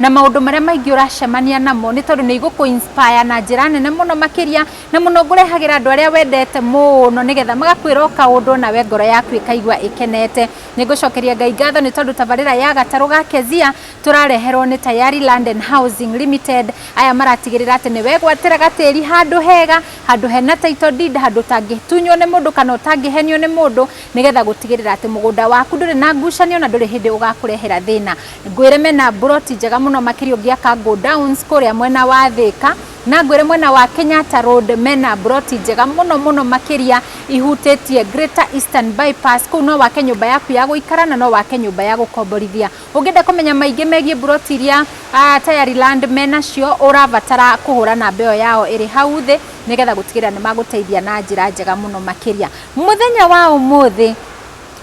na maũndũ marĩa maingĩ ũracemania namo nĩ tondũ nĩ igũkũ inspire na njĩra nene mũno makĩria na mũno ngũrehagĩra andũ arĩa wendete mũno nĩgetha magakwĩra o kaũndũ nawe ngoro yaku ĩkaigua ĩkenete nĩ ngũcokeria ngai ngatho nĩ tondũ tabarĩra ya gatarũ ga kezia tũrareherwo nĩ tayari land and housing limited aya maratigĩrĩra atĩ nĩ wegwatĩra gatĩri handũ hega handũ hena title deed handũ ũtangĩtunywo nĩ mũndũ kana ũtangĩhenio nĩ mũndũ nĩgetha gũtigĩrĩra atĩ mũgũnda waku ndũrĩ na ngucanio na ndũrĩ hĩndĩ ũgakũrehera thĩna Ngwĩre mena mburoti njega mũno makĩria ũngĩaka go downs kũrĩa mwena wa Thĩka na ngwĩre mwena wa Kenyatta Road mena mburoti njega mũno mũno makĩria ihutĩtie Greater Eastern Bypass. Kũu no wake nyũmba yaku ya gũikara na no wake nyũmba ya gũkomborithia. Ũngĩenda kũmenya maingĩ megiĩ mburoti iria ah, Tayari Land menacio ũrabatara kũhũra namba ĩyo yao ĩrĩ hau thĩ nĩgetha gũtigĩrĩra nĩ magũteithia na njĩra njega mũno makĩria. Mũthenya wa ũmũthĩ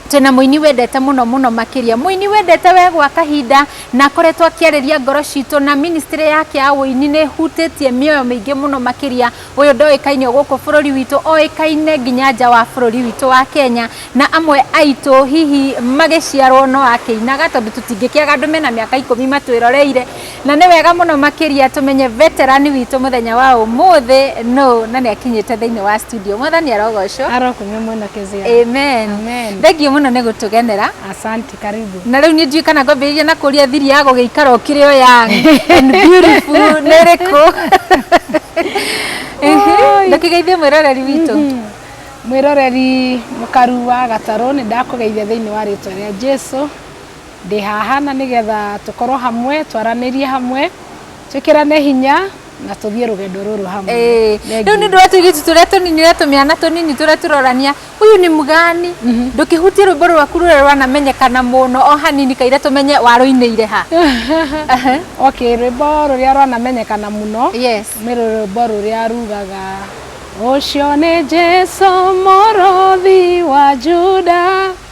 twĩna mũini wendete mũno mũno makĩria mũini wendete we gwa kahinda na akoretwo akĩarĩria ngoro citũ na ministry yake ya ũini nĩ hutĩtie mĩoyo mĩingĩ mũno makĩria ũyũ ndoĩkaine gũkũ bũrũri witũ oĩkaine nginya nja wa bũrũri witũ wa Kenya na amwe aitũ hihi magĩciarwo no akĩinaga tondũ tũtingĩkĩaga andũ mena mĩaka ikũmi matwĩroreire Na nĩ wega mũno makĩria tũmenye veterani witũ mũthenya wa ũmũthĩ nũũ na nĩ akinyĩte thĩinĩ wa studio. Mwathani arogocwo. Arokunywa mwena kezia. Amen. Amen. Thengio mũno nĩ gũtũgenera. Asante, karibu. Na rĩu niĩ ndiũĩ kana ngwambĩrĩria na kũria thiri ya gũgĩikara ũkĩrĩ o young and beautiful nĩ ĩrĩkũ? Oi. Ndũkĩgeithie mwĩroreri witũ. Mwĩroreri mũkaru wa gatarũ nĩ ndakũgeithia thĩinĩ wa rĩtwa rĩa Jesu. ndĩ haha na nĩgetha tũkorwo hamwe twaranĩrie hamwe twĩkĩrane hinya na tũthiĩ rũgendo rũrũ hamwe rĩu nĩ ndũra tũirĩtu tũrĩa tũnini ũrĩa tũmĩana tũnini tũrĩa tũrorania huyu nĩ mgani mhm. ndũkĩhutie rwĩmbo rwaku rũrĩa rwanamenyekana mũno o hanini kaire tũmenye warũinĩire ha ok rwĩmbo rũrĩa rwanamenyekana mũno nĩ rwĩmbo rũrĩa rugaga ũcio nĩ jesu mũrũthi wa juda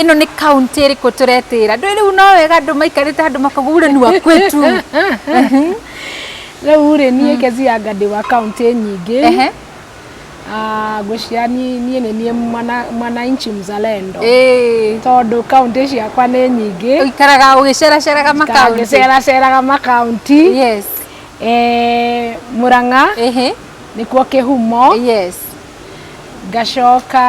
ĩno nĩ kaunti ĩrĩkũ tũretĩra ndũĩ rĩu no wega andũ maikarĩte handũ makauga ule ni wa kwetu rĩu rĩ niĩ kezi ya ngandĩ wa kaunti nyingĩ Ehe. Ah, ngwĩciria niĩ niĩ nĩ niĩ mwana- mwananchi mzalendo Ĩĩ. tondũ kaunti ciakwa nĩ nyingĩ ũikaraga ũgĩceraceraga makaunti ngĩceraceraga makaunti yes Eh, mũrang'a Ehe. nĩkuo kĩhumo yes ngacoka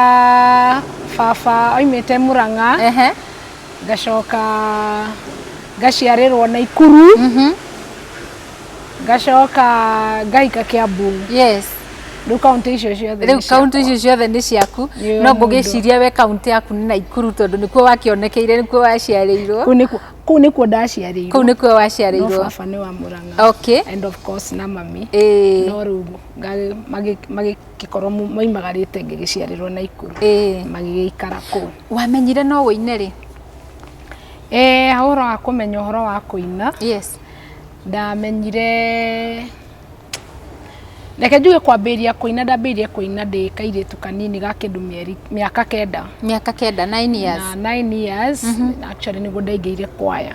baba oimĩte mũrang'a Ehe. ngacoka ngaciarĩrwo na ikuru Mhm. ngacoka ngahika kĩambu Yes. rĩu kaunti icio ciothe Rĩu nĩ ciakwa. kaunti icio ciothe nĩ ciaku. Nĩ No mũndũ. ngũgĩciria we kaunti yaku nĩ Naikuru tondũ nĩkuo wakĩonekeire, nĩkuo waciarĩirwo. Kũu nĩkuo- kũu nĩkuo ndaciarĩirwo Kũu nĩkuo no waciarĩirwo. baba nĩ wa mũrang'a Okay. and of course na mami Ĩĩ. no rĩu magĩkorwo maimagarĩte ngĩgĩciarĩrwo Naikuru magĩgĩikara kũu. Wamenyire no ũine rĩ? Eeh ũhoro wa kũmenya ũhoro wa kũina ndamenyire reke njuge kwambĩrĩria kũina ndambĩrĩirie kũina ndĩ kairĩtu kanini ga kĩndũ mĩeri mĩaka kenda. Mĩaka kenda, nine years. Na nine years actually nĩguo ndaingĩrire kwaya.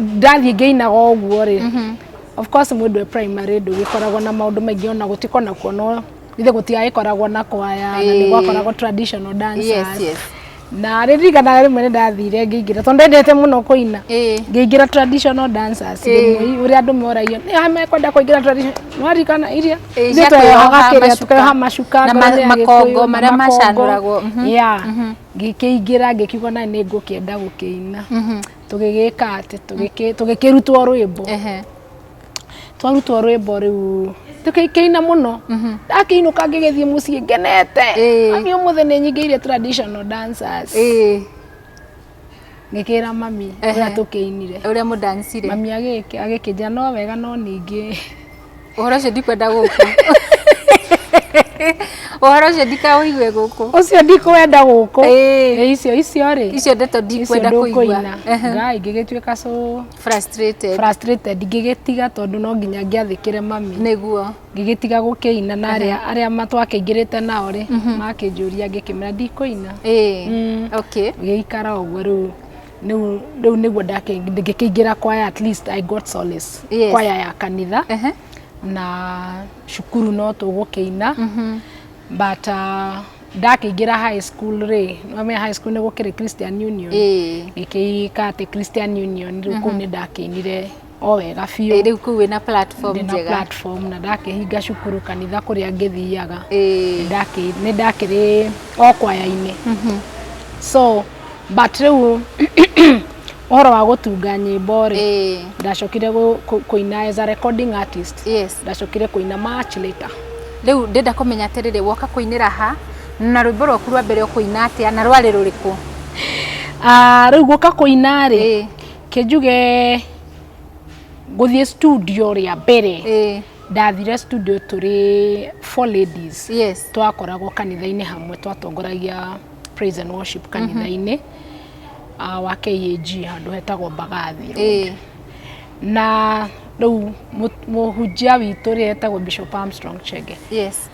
ndathiĩ ngĩinaga ũguo rĩ mhm. of course mũndũ e primary ndũgĩkoragwo na maũndũ maingĩ ona gũtiko na kuona ithe gũtiagĩkoragwo na kwaya na nĩ gwakoragwo traditional dancers na rä ririkanaga rä mwe nä ndathire ngä ingä ra tondå ndendete må no kå ina ngä ingä ra traditional dancers rä å rä a andå moragio nä mekwenda kå ingä ra traditionarikana iria ithuä tweyohaga kä rä a tå keyoha macuka makongo marä a macanå ragwo ngĩkĩingĩra ngĩkiuga na nĩ ngũkĩenda gũkĩina mhm. tũgĩgĩka atĩ tũgĩkĩrutwo rwĩmbo twarutwo rwĩmbo rĩu tũkĩina mũno mhm. ndakĩinũka ngĩgĩthiĩ mũciĩ ngenete ani ũmũthĩ nĩ nyingĩire traditional dancers ngĩkĩra mami ũrĩa tũkĩinire ũrĩa mũdancire mami agĩkĩnjĩra no wega no ningĩ ũhoro ũcio ndikwenda gũkũ ũhoro ũcio ndikaũigue gũkũ ũcio ndikwenda gũkũ Ĩĩ. icio icio rĩ icio ndeto ndikwenda kũigua Ehe. ngaa ingĩgĩtuĩka so frustrated frustrated ngĩgĩtiga tondũ no nginya ngĩathĩkĩre mami nĩguo ngĩgĩtiga gũkĩina na arĩa arĩa matwakĩingĩrĩte nao rĩ makĩnjũria ngĩkĩmera ndikũina ĩĩ Mm. okay gĩikara ũguo rĩu rĩu rĩu nĩguo ndake- ngĩkĩingĩra kwaya at least I got solace Yes. kwaya ya kanitha Ehe. na cukuru no tũgũkĩina but uh, ndakĩingĩra high school rĩ wamenya high school nĩ gũkĩrĩ christian union Ĩĩ. gĩkĩika atĩ christian union rĩu kũu nĩ ndakĩinire o wega biũ Eh, rĩu kuu wĩna platform ndĩ na njega platform na ndakĩhinga cukuru kanitha kũrĩa ngĩthiaga Eh, Ndakĩ- nĩ ndakĩrĩ o kwaya-inĩ so but rĩu ũhoro wa gũtunga nyĩmbo rĩ eh, ndacokire gũ- kũ- kũina as a recording artist yes ndacokire kũina much later rĩu ndĩrenda kũmenya atĩrĩrĩ woka kũinĩra ha na rwĩmbo rwaku rwa mbere ũkũina atĩa na rwarĩ rũrĩkũ Ah, rĩu gũka kũina rĩ Eh. kĩnjuge ngũthiĩ studio rĩa mbere eh. ndathire studio tũrĩ four ladies yes. twakoragwo kanitha-inĩ hamwe twatongoragia praise and worship mhm. kanitha-inĩ mm -hmm. uh, wa KAG handũ hetagwo Mbagathi eh. na rĩu mũhunjia witũ rĩ etagwo Bishop Armstrong Chege yes.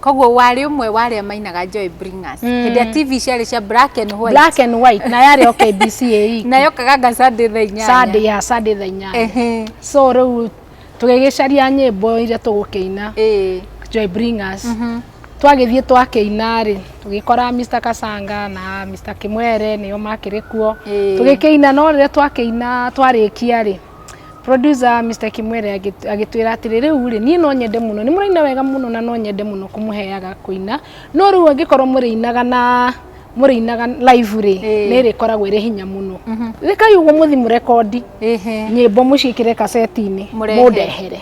Koguo warĩ ũmwe wa arĩa mainaga Joy Bringers. Mm. Hĩndĩ ya TV ciarĩ cia black and white. Black and white na yarĩ o KBC ĩĩ. Na yokaganga Sunday thaa inyanya. Sunday ya Sunday thaa inyanya. Ehe. So rĩu tũgĩgĩcaria nyĩmbo iria tũgũkĩina. Ĩĩ. Joy Bringers. Mm -hmm. Twagĩthiĩ twakĩina rĩ tũgĩkora Mr Kasanga na Mr Kimwere nĩo makĩrĩ kuo. Tũgĩkĩina no rĩrĩa twakĩina twarĩkia rĩ Producer Mister Kimwere agĩtwĩra atĩrĩ rĩu rĩ niĩ no nyende mũno nĩ mũraina wega mũno na no nyende mũno kũmũheaga kũina no rĩu angĩkorwo mũrĩinaga na mũrĩinaga live rĩ nĩ ĩrĩkoragwo ĩrĩ hinya mũno mhm. rekai ũguo mũthi mũrekondi nyĩmbo mũciĩkĩre kaseti-inĩ mũndehere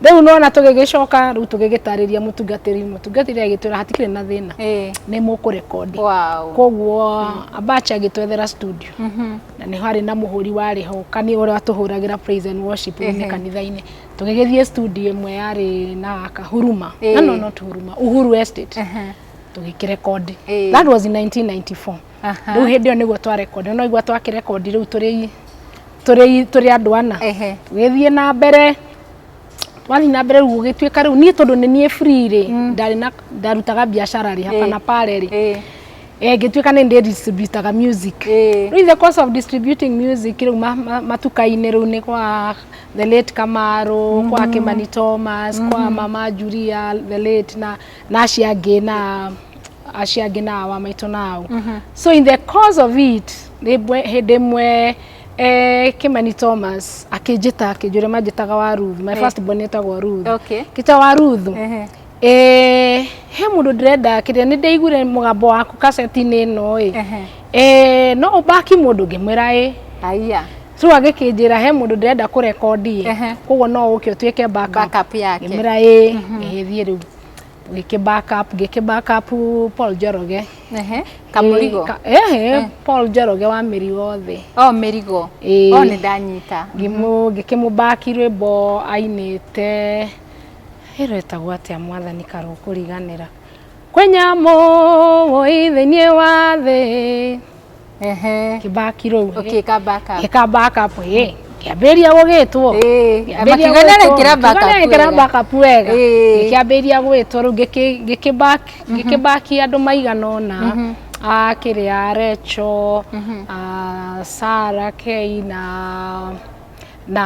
Rĩu nona tũgĩgĩcoka rĩu tũgĩgĩtarĩria mũtungatĩri mũtungatĩri agĩtwĩra hatikĩrĩ na thĩna eh. nĩ mũkũrekondi wow. koguo mm. abacha agĩtwethera studio mm -hmm. na nĩ harĩ na mũhũri warĩ ho kani ũrĩa watũhũragĩra praise and worship mm -hmm. kanitha-inĩ tũgĩgĩthiĩ studio ĩmwe yarĩ na kahuruma eh. no no not huruma uhuru estate mm -hmm. tũgĩkĩrekondi eh. that was in 1994 Aha. rĩu hĩndĩ ĩyo nĩguo twarekondi no igua twakĩrekondi rĩu tũrĩ tũrĩ tũrĩ andũ ana Ehe. tũgĩthiĩ na mbere twathiĩ na mbere rĩu gũgĩtuĩka rĩu niĩ tondũ nĩ niĩ free rĩ ndarĩ na ndarutaga biacara rĩ hapa na pale rĩ Eh, eh, ngĩtuĩka nĩ ndĩ distributaga music eh. rĩu in the course of distributing music rĩu ma- ma- matuka-inĩ rĩu nĩ kwa the late kamaro kwa kimani thomas kwa mama julia the late na na acio angĩ na aciangi na awa maitũ na au mhm. so in the cause of it hĩndĩ ĩmwe eh, Kimani Thomas akĩnjĩta akĩnjũria manjĩtaga wa Ruth my eh. first born etagwo Ruth okay. kita wa Ruth eh, he mũndũ ndĩrenda kĩrĩa nĩ ndaiguire mũgambo waku kaseti-inĩ ĩno ĩ eh, no ũbaki mũndũ ngĩmwĩra ĩ aya rĩu agĩkĩnjĩra he mũndũ ndĩrenda kũrekondi ĩ koguo no ũke ũtuĩke backup yake ngĩmwĩra ĩ ngĩgĩthiĩ mhm. rĩu gĩkĩ backup gĩkĩ backup Paul Njoroge Ehe. Kamũrigo. Ka- ehe, Paul Njoroge wa mĩrigo thĩ Oh, mĩrigo. Ĩĩ. Oh, nĩ ndanyita. ngĩmũ ngĩkĩmũbaki rwĩmbo ainĩte ĩrwĩtagwo atĩa mwathani karũkũriganĩra kwĩ nyamũ wũi thĩinĩ wa thĩ ehe kĩbaki rũu okay ka back up ĩka back up ĩ kĩambĩrĩria gũgĩtwo kĩambĩrĩria gũgĩtwo back up wega kĩambĩrĩria gũgĩtwo rĩu gĩkĩ back gĩkĩ back andũ maigana ũna a kĩrĩa Recho a Sara Kei na na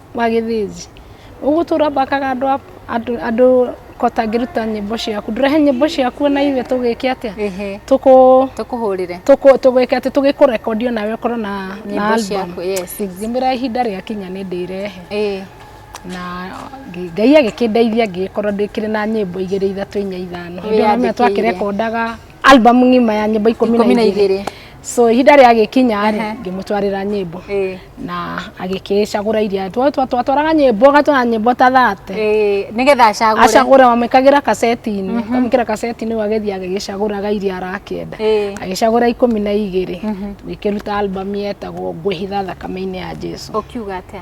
wa gĩthĩnji. Ũgũtũra ũthakaga andũ a andũ andũ kota ngĩruta nyĩmbo ciaku. Ndũrehe nyĩmbo ciaku ona ithuĩ tũgĩke atĩa? Ehe. Tũkũ Tũkũhũrĩre. tũkũ tũgĩke atĩ tũgĩkũrekondi ona we ũkorwo na na Nyĩmbo album. ciaku, yes. Ngĩmwĩra ihinda rĩakinya nĩ ndĩrehe. Ĩĩ. Na ngĩ- Ngai agĩkĩndeithia ngĩgĩkorwo ndĩkĩrĩ na nyĩmbo igĩrĩ ithatũ inya ithano. Hĩndĩ ĩyo no mĩhaka Wĩyandĩkĩire. twakĩrekondaga album ng'ima ya nyĩmbo ikũmi na Ikũmi na igĩrĩ igĩrĩ. so ihinda rĩa gĩkinya rĩ Ehe. ngĩmũtwarĩra nyĩmbo Eh, na agĩkĩcagũra iria twa- twa- twatwaraga nyĩmbo agatwara nyĩmbo ta thate eh, nĩgetha acagũre acagũra wamwĩkagĩra kaseti-inĩ wamwĩkĩra kaseti-inĩ agĩthiĩ agĩgĩcagũraga iria arakĩenda Eh. agĩcagũra ikũmi na igĩrĩ tũgĩkĩruta album yetagwo ngwĩhitha thakame-inĩ ya jesu ũkiuga atĩa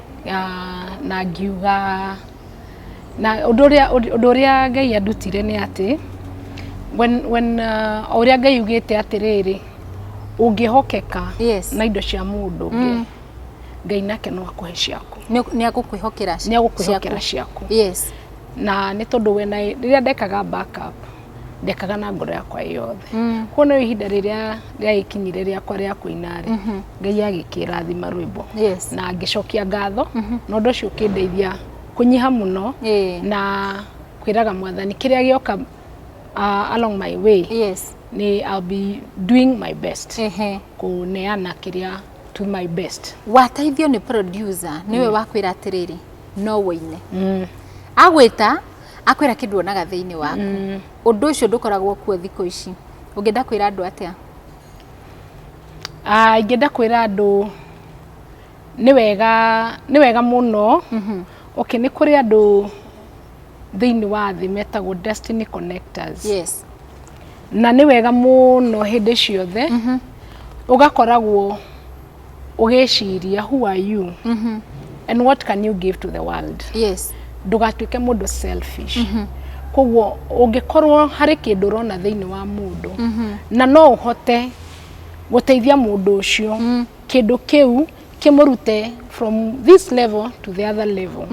na ngiuga, na ũndũ ũrĩa, ũndũ ũrĩa Ngai andutire nĩ atĩ, when when o ũrĩa Ngai augĩte atĩrĩrĩ, ũngĩhokeka na indo cia mũndũ ũngĩ, Ngai nake no akũhe ciaku. Nĩ agũkwĩhokera ciaku. Nĩ agũkwĩhokera ciaku. Yes. Na nĩ tondũ when I, rĩrĩa ndekaga back up. ndekaga na ngoro yakwa yothe mm. kuona ihinda rĩrĩa rĩagĩkinyire rĩakwa rĩa kũina rĩ mhm. ngai agĩkĩrathima rwĩmbo yes. na ngĩcokia ngatho mm -hmm. na ũndũ ũcio ũkĩndeithia kũnyiha mũno yeah. na kwĩraga mwathani kĩrĩa gĩoka uh, along my way yes. ni I'll be doing my best uh -huh. kũneana kĩrĩa to my best wateithio nĩ producer niwe mm. wakwĩra atĩrĩrĩ no wĩine mm. agwĩta akwĩra kĩndũ onaga thĩinĩ waku mm. ũndũ ũcio ndũkoragwo kuo thikũ ici ũngĩenda kwĩra andũ atĩa ah, ingĩenda kwĩra andũ nĩ wega nĩ wega mũno mhm. okay nĩ kũrĩ andũ thĩinĩ wa thĩ metagwo destiny connectors yes na nĩ wega mũno hĩndĩ ciothe mhm. ũgakoragwo ũgĩciria who are you and what can you give to the world yes ndũgatuĩke mũndũ selfish koguo ũngĩkorwo harĩ kĩndũ ũrona thĩinĩ wa mũndũ na no ũhote gũteithia mũndũ ũcio kĩndũ kĩu kĩmũrute from this level to the other level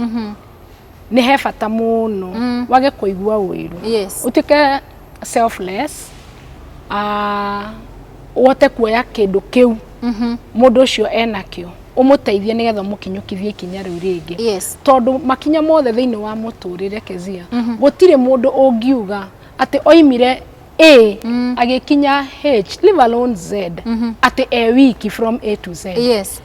nĩ he bata mũno mm. wage kũigua ũiru yes. ũtuĩke selfless uh, ũhote kuoya kĩndũ kĩu mm -hmm. mũndũ ũcio enakĩo umuteithie nigetha mukinyukithie ikinya riu ringi yes. tondu makinya mothe thiini wa muturire kezia mm -hmm. gutire mundu ungiuga ati oimire A mm. agikinya H leave alone Z mm -hmm. ati e wiki from A to Z yes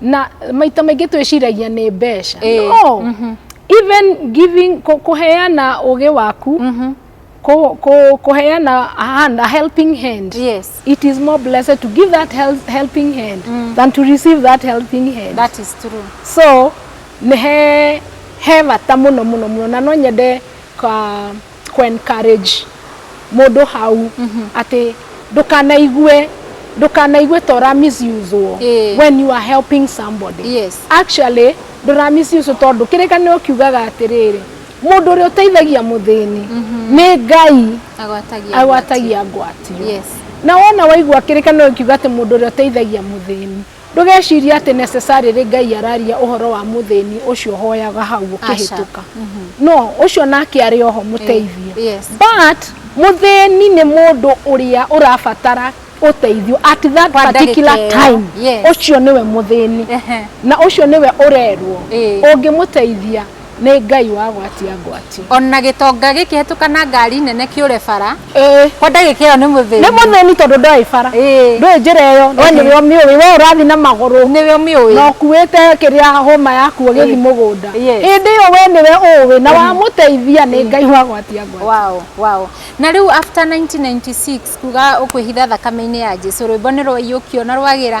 na maita maingĩ twĩciragia nĩ mbeca Ĩĩ, no mhm. even giving kũ- kũheana ũgĩ waku Mhm. kũ- kũ- kũheana a hand, a helping hand Yes. it is more blessed to give that hel helping hand Mm. than to receive that helping hand That is true. so nĩ he he bata mũno mũno mũno na no nyende ka kũencourage mũndũ hau atĩ ndũkanaigue ndũkanaigue ta ũra misuse wo Ĩĩ. when you are helping somebody Yes. actually ndũra misuse tondũ kĩrĩkanĩro kiugaga atĩrĩrĩ mũndũ ũrĩa ũteithagia mũthĩni nĩ ngai agwatagia agwatagia ngwatio Yes. na wona waigua kĩrĩkanĩro kiuga atĩ mũndũ ũrĩa ũteithagia mũthĩni Ndũgecirie atĩ necessarily Ngai araria ũhoro wa mũthĩni ũcio ũhoyaga hau Aca. ũkĩhĩtũka. No, ũcio nake arĩ oho mũteithio. Eh, yes. But, mũthĩni nĩ mũndũ ũrĩa ũrabatara ũteithio at that Kwa particular ndagĩka ĩyo, time. yes. Ũcio nĩwe mũthĩni. Ehe. Na ũcio nĩwe ũrerwo. Eh. Ũngĩmũteithia, Nĩ Ngai wa gwatia ngwatia. Ona gĩtonga gĩkĩhetũka na ngari nene kĩũre bara. Ĩĩ. Kwa ndagĩka ĩyo nĩ mũthĩni. Nĩ mũthĩni tondũ ndoĩ bara. Ĩĩ. Ndũĩ njĩra ĩyo. No nĩwe ũmĩũĩ. We ũrathiĩ na magũrũ. Nĩwe ũmĩũĩ. Na ũkuĩte kĩrĩa hũma yaku ũgĩthiĩ mũgũnda. Yes. Hĩndĩ ĩyo we nĩwe ũũĩ na wamũteithia nĩ Ngai wa gwatia ngwatia. Wow, wow. Na rĩu after 1996 kuga ũkwĩhitha thakame-inĩ ya Jesu, rwĩmbo nĩ rwaiyũkio na rwagĩra.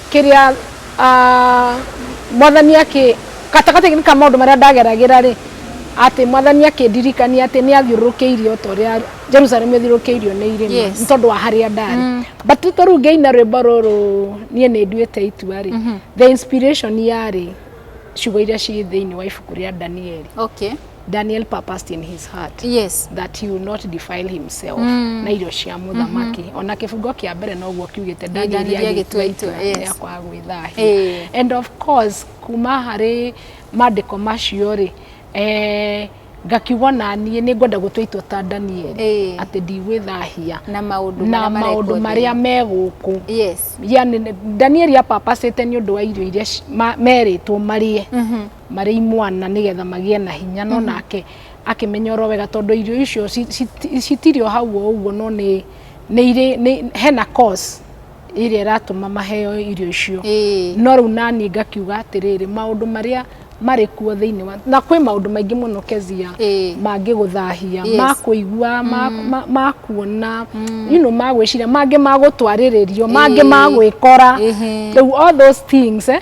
Kĩrĩa, Mwathani akĩ, gatagatĩ-inĩ ka maũndũ marĩa ndageragĩra-rĩ, atĩ Mwathani akĩndirikania atĩ nĩ athiũrũrũkĩirio ota ũrĩa Jerusalemu ĩthiũrũrũkĩirio nĩ irĩma, nĩ tondũ wa harĩa ndarĩ. But nĩ tondũ rĩu ngĩina rwĩmbo rũrũ niĩ nĩ nduĩte itua-rĩ, the inspiration yarĩ ciugo iria ciĩ thĩiniĩ wa ibuku rĩa Danieli. daniel purposed in his heart yes that he will not defile himself Mm. na irio cia mũthamaki ona kĩbungo kĩa mbere noguo kiugĩte Danieli danieli agĩtua agĩtua itua itua, yes. rĩa kwaga gwĩthahia Eh. and of course kuma harĩ maandĩko macio rĩ eh, ngakiuga na niĩ nĩ ngwenda gũtua itua ta danieli Eh. atĩ ndigwĩthahia na maũndũ na marĩa maũndũ marekwo marĩa thĩ. me gũkũ yes yani danieli apapacĩte nĩ ũndũ wa irio iria ci- ma- merĩtwo marĩe Mhm. marĩ imwana nĩgetha magĩe na hinya no nake akĩmenya oro wega tondũ irio icio ci- citi- citirĩ o hau o ũguo no nĩ nĩ irĩ nĩ- hena cause ĩrĩa ĩratũma maheo irio icio Ĩĩ. no rĩu naniĩ ngakiuga atĩrĩrĩ maũndũ marĩa marĩ kuo thĩinĩ wa na kwĩ maũndũ maingĩ mũno kezia Ĩĩ. mangĩgũthahia Yes. makũigua ma- ma- makuona you know, magwĩciria mangĩ magũtwarĩrĩrio mangĩ Ĩĩ. magwĩkora Ĩhĩ. rĩu all those things eh,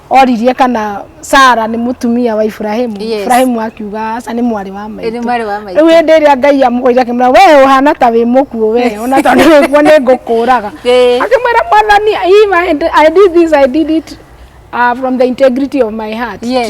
oririe kana Sara nĩ mũtumia wa Ibrahimu yes. Ibrahimu akiuga aca nĩ mwarĩ wa maitũ rĩu hĩndĩ ĩrĩa Ngai amũgũire akĩmwĩra we ũhana ta wĩ mũkuũ we ona tondũ wĩkuo nĩ ngũkũraga akĩmwĩra mwathani I did this I did it uh, from the integrity of my heart yes.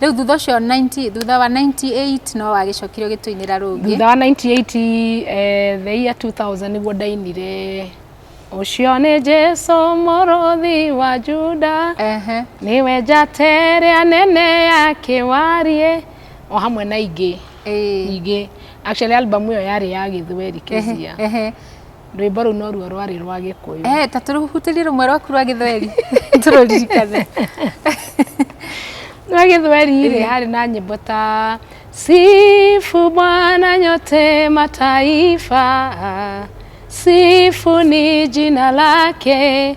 rĩu thutha ũcio 90 thutha wa 98 no wagĩcokire ũgĩtũinĩra rũngĩ thutha wa 98 eh, the year 2000 nĩguo ndainire ũcio nĩ jesu mũrũthi wa juda ehe nĩwe njata ĩrĩa nene ya kĩwariĩ o hamwe na ingĩ ĩĩ nyingĩ actually album ĩyo yarĩ ya gĩthweri kĩzia ehe rwĩmbo rũu noruo rwarĩ rwa gĩkũyũ eh, ta tũrũhutĩrie rũmwe rwaku rwa gĩthweri tũrũririkane rwa gĩthweri rĩ eh. harĩ na nyĩmbo ta sifu bwana nyote mataifa sifu ni jina lake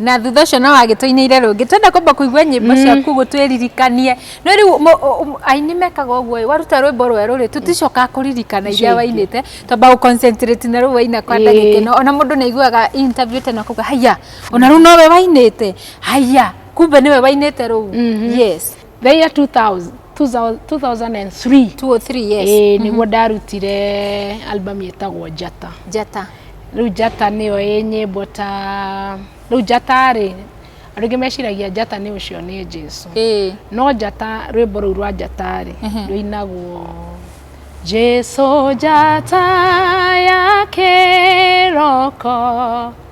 na thutha ũcio no agĩtũinĩire rũngĩ twenda kwamba kũigua nyĩmbo mm. ciaku gũtwĩririkanie no rĩu aini mekaga ũguo waruta rwĩmbo rwerũ rĩ tũticokaga kũririkana iria wainĩte twamba gũconcentrate na rũu waina kwa ndagĩka ĩno ona mũndũ nĩ aiguaga interview tena kuga haiya ona rũu nowe wainĩte haiya kumbe nĩwe wainĩte rũu mm-hmm. yes the year 2000 2000 2003 203 yes ĩĩ nĩguo ndarutire album ĩtagwo njata njata rĩu njata nĩyo ĩ nyĩmbo ta rĩu njata rĩ andũ aingĩ meciragia njata nĩ ũcio nĩ jesu ĩĩ no njata rwĩmbo rũu rwa njata rĩ Mhm. rũinagwo jesu njata ya kĩroko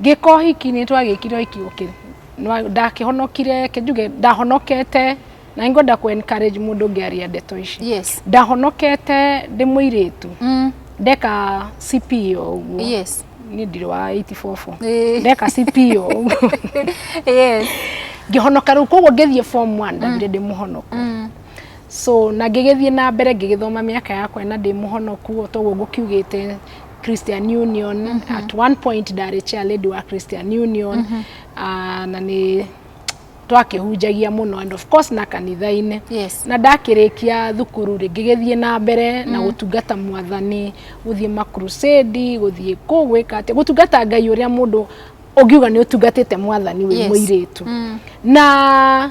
Ngĩka ũhiki nĩ twagĩkire ũhiki ũkĩ ndakĩhonokire kĩnjuge ndahonokete na nĩ ngwenda kũ encourage mũndũ ngĩaria ndeto ici yes. ndahonokete ndĩ mũirĩtu mm. ndeka CP o ũguo yes. niĩ ndirĩ wa 84 ndeka CP o ũguo yes. ngĩhonoka rĩu koguo ngĩthiĩ form 1 ndagire mm. ndĩ mũhonoku mm so na ngĩgĩthiĩ na mbere ngĩgĩthoma mĩaka yakwa na ndĩ mũhonoku o toguo ngũkiugĩte Christian Union mm -hmm. at one point ndarĩ chair lady wa Christian Union mm -hmm. uh, na nĩ twakĩhunjagia mũno and of course na kanitha-inĩ yes. na ndakĩrĩkia thukuru rĩngĩ gĩthiĩ na mbere mm. na gũtungata mwathani gũthiĩ makrusedi gũthiĩ kũ gwĩka atĩ gũtungata ngai ũrĩa mũndũ ũngiuga nĩ ũtungatĩte mwathani wĩ yes. mũirĩtu mm. na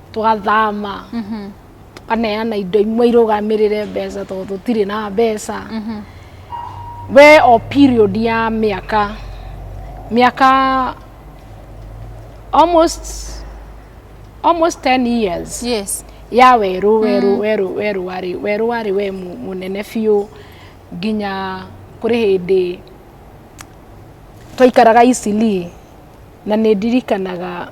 twathama tukaneana indo imwe irũgamĩrĩre mbeca tondũ tũtirĩ na mbeca we o period ya mĩaka mĩaka almost almost 10 years yes ya werũ werũ werũ werũ warĩ werũ warĩ we mu- mũnene biũ nginya kũrĩ hĩndĩ twaikaraga Eastleigh na nĩ ndirikanaga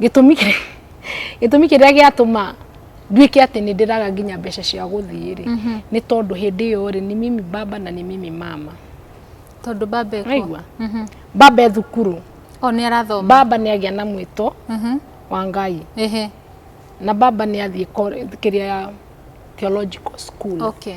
gĩtũmi kĩrĩa gĩtũmi kĩrĩa gĩatũma nduĩke atĩ nĩ ndĩraga nginya mbeca cia gũthiĩ rĩ mhm. nĩ tondũ hĩndĩ ĩyo rĩ nĩ mimi baba na nĩ mimi mama tondũ baba ekwa mhm. baba e thukuru o nĩ arathoma baba nĩ agĩa na mwĩto mhm. wa ngai na baba nĩ athiĩ kĩrĩa theological school okay.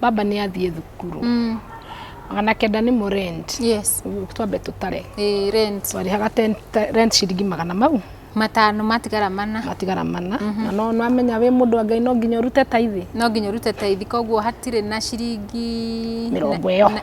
baba nĩ athiĩ thukuru Mm. magana kenda nĩ mo rent Yes. Ũguo twambe tũtare Eh, rent. twarĩhaga ten- te- rent ciringi magana mau Matano matigara mana. matigara mana na no namenya wĩ mũndũ wa ngai no nginya ũrute taithi No nginya ũrute taithi koguo hatirĩ na ciringi mĩrongo ĩyo na-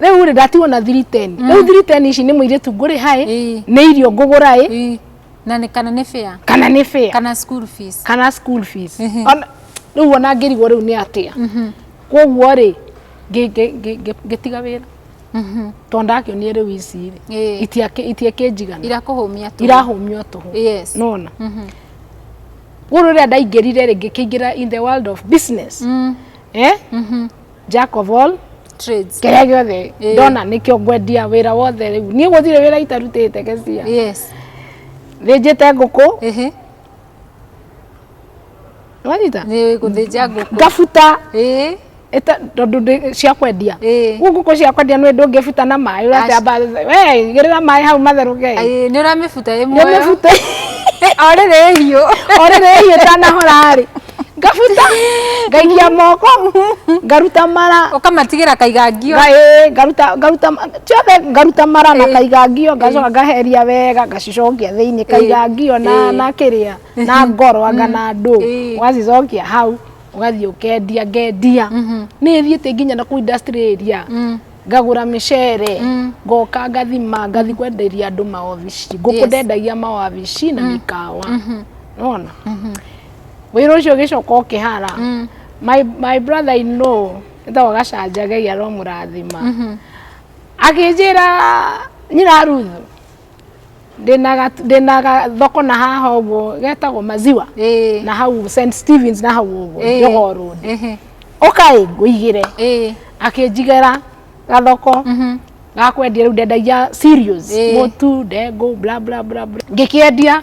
rĩu rĩ ndatigwo na thiri teni mm. rĩu thiri teni ici nĩ mũirĩtu ngũrĩ haĩ nĩ irio ngũgũra ĩ na nĩ kana nĩ fare kana nĩ fare kana school fees kana school fees rĩu ona ngĩrigwo rĩu nĩ atĩa mhm. koguo rĩ ngĩtiga wĩra mhm. tondũ ndakĩonire rĩu ici rĩ itiakĩnjigana irakũhũmia tũhũ irahũmio tũhũ nona mhm. rĩu rĩrĩa ndaingĩrire rĩ ngĩkĩingĩra in the world of business mm. eh? jack of all trades kĩrĩa gĩothe Ĩĩ. ndona nĩkĩo ngwendia wĩra wothe rĩu niĩ gũtirĩ wĩra itarutĩte gĩcia yes thĩnjĩte ngũkũ ehe wanyita nĩ gũthĩnja ngũkũ ngabuta ĩĩ ĩta- tondũ ndĩ- cia kwendia Ĩĩ. rĩu ngũkũ cia kwendia nĩ ndũngĩbuta na maĩ ũratamba we gĩrĩra maĩ hau matherũke Ĩĩ, nĩ ũramĩbuta ĩmwe nĩmĩbuta o rĩrĩ hiũ orĩrĩ hiĩ tanahora rĩ ngabuta ngaikia moko ngaruta mara ukamatigira kaigangio Ngaĩ, ngaruta ngaruta ciothe ngaruta mara na Ĩĩ. kaigangio ngacoka ngaheria wega ngacicokia thĩinĩ kaigangio na Ĩĩ. na kĩrĩa na ngoro anga na ndũ Ĩĩ. ũgacicokia hau ũgathiĩ ũkendia ngendia nĩ thiĩte nginya na kũu industry area ngagũra mĩcere ngoka ngathima ngathi kwenderia andũ maobici ngũkũ Yes. ndendagia maobici na mĩkawa nona wĩra ũcio ũgĩcoka ũkĩhara mm. my, my brother in law ĩtagwo gacanjagei aromũrathima mm -hmm. akĩnjĩra nyina ruthu ndĩna thoko na haha ũguo getagwo maziwa na hau st stevens na hau ũguo njogoo road ũkaĩ ngũigĩre akĩnjigĩra gathoko mhm. gakwendia rĩu ndendagia cereals mũtu ndengũ bla bla bla ngĩkĩendia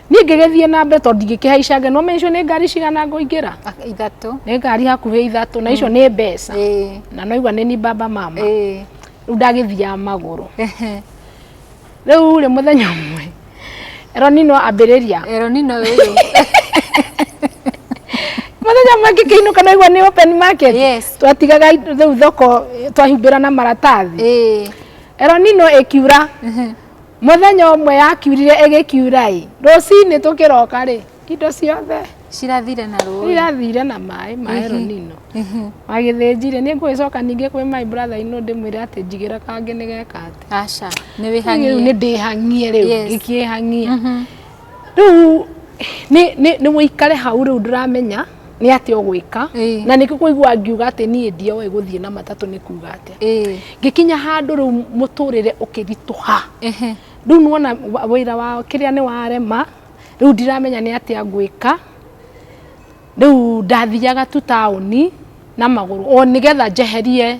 niĩ ngĩgĩthiĩ na mbere tondũ ndingĩkĩhaicange no mencio nĩ ngari cigana ngũingĩra Ak- ithatũ nĩ ngari hakuhĩ ithatũ na icio nĩ mbeca Ĩĩ, na noigua nĩ ni baba mama ĩĩ. rĩu ndagĩthiaga magũrũ Ehe. rĩu rĩ mũthenya ũmwe ronino ambĩrĩria eronino ũyũ mũthenya ũmwe ngĩkĩinũka noigua nĩ open market Yes. twatigaga rĩu thoko twahumbĩra na maratathi ĩĩ ronino ĩkiura Mũthenya ũmwe yakiurire ĩgĩkiura-ĩ, rũcinĩ tũkĩroka-rĩ, indo ciothe cirathire na rũĩ, irathire na maĩ ma El Nino. Magĩthĩnjire, nĩ ngũgĩcoka ningĩ kwĩ my brother in law ndĩmwĩre atĩ njigĩra kangĩ nĩgeka atĩ. Aca, nĩ wĩhang'ie. Rĩu nĩ ndĩhang'ie rĩu, ngĩkĩhang'ia. rĩu nĩ- nĩ nĩ ũikare hau rĩu ndũramenya nĩ atĩa ũgwĩka Ĩĩ. na nĩkĩ kũigua ngiuga atĩ niĩ ndioĩ gũthiĩ na matatũ nĩ kuga atĩa Ĩĩ. ngĩkinya handũ rĩu mũtũrĩre ũkĩritũha Ehe. rĩu nĩwona wa- wĩra wa kĩrĩa nĩ warema rĩu ndiramenya nĩ atĩa ngwĩka rĩu ndathiaga tu taũni na magũrũ o nĩgetha njeherie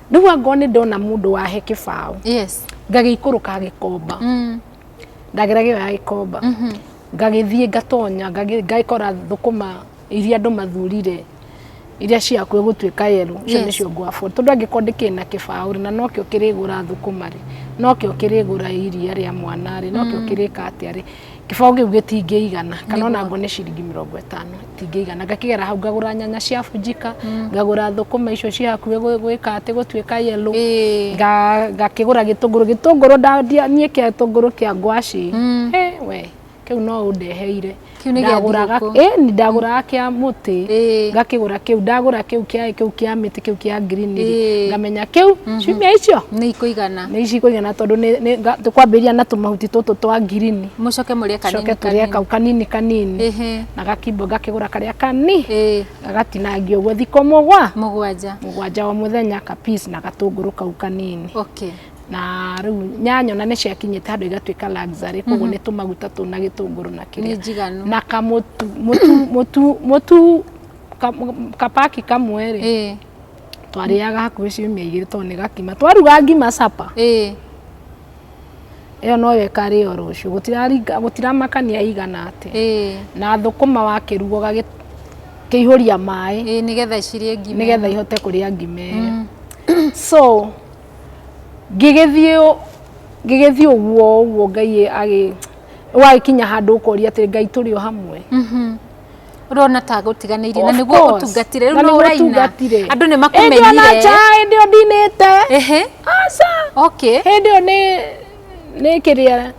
rĩu angorwo nĩ ndona mũndũ wahe kĩbaũ yes ngagĩikũrũka gĩkomba mm. ndagera gĩo ya gĩkomba Mhm. ngagĩthiĩ ngatonya ngagĩ- ngakora thũkũma iria andũ mathurire iria ciaku ĩgũtuĩka yerũ icio Yes. nĩcio ngwabu tondũ angĩkorwo ndĩkĩrĩ na kĩbaũ rĩ na nokĩo kĩrĩgũra thũkũma rĩ nokĩo kĩrĩgũra iria rĩa mwana rĩ nokĩo kĩrĩka atĩa rĩ kĩbaũ kĩu gĩtingĩigana kana ona ngone ciringi mĩrongo ĩtano itingĩigana ngakĩgera hau ngagũra nyanya cia bunjika mm. ngagũra thũkũma icio ciĩ hakuhĩ gwĩka atĩ gũtuĩka yellow ngakĩgũra gĩtũngũrũ gĩtũngũrũ ndandia niĩ kĩa gĩtũngũrũ kĩa ngwacĩ mm. we kĩu no ũndeheire ndagũraga ndagũraga kĩa mũtĩ ngakĩgũra kĩu ndagũra kĩu kĩa kĩu kĩa mĩtĩ kĩu kĩa green ngamenya kĩu mhm. ciumia icio nĩ ikũigana nĩ ici ikũigana tondũ nĩ- nĩ- nga- tũkwambĩrĩria na tũmahuti tũtũ twa ngirini mũcoke mũrĩe coke kanini tũrĩa kanini kau kanini kanini Ĩhĩ. na gakimbo ngakĩgũra karĩa kani Ĩĩ, gagatinangio ũguo thikũ mũgwa mũgwanja mũgwanja o mũthenya ka peas na gatũngũrũ kau kanini okay na rĩu nyanya ona nĩ ciakinyĩte handũ igatuĩka luxury koguo nĩ tũmaguta tũ na gĩtũngũrũ na nĩ kĩrĩa njiganu na kamũtu mũtu mũtu mũtu ka- kapaki kamwe rĩ Ĩĩ. twarĩaga hakuhĩ ciumia igĩrĩ tondũ nĩ gakima twaruga ngima capa ĩĩ ĩyo noyo ĩkarĩo rũciũ gũtiraringa gũtiramakania ĩigana atĩa ĩĩ na thũkũma wakĩruga ũgagĩ kĩihũria maĩ ĩĩ nĩgetha icirĩe ngima nĩgetha ihote kũrĩa ngima ĩyo so ngĩgĩthiĩ ũ- ngĩgĩthiĩ ũguo ũguo ngai agĩ ũgagĩkinya handũ ũkoria atĩ ngai tũrĩ o hamwe Mhm. urona ta gutiganire na niguo course. utungatire riu Na no nĩguo uraina ũtungatire. andu ni Ĩndĩ ona makumenyire nja ĩndĩ ũ ndinĩte ehe aca okay hĩndĩ ĩyo nĩ nĩ kĩrĩa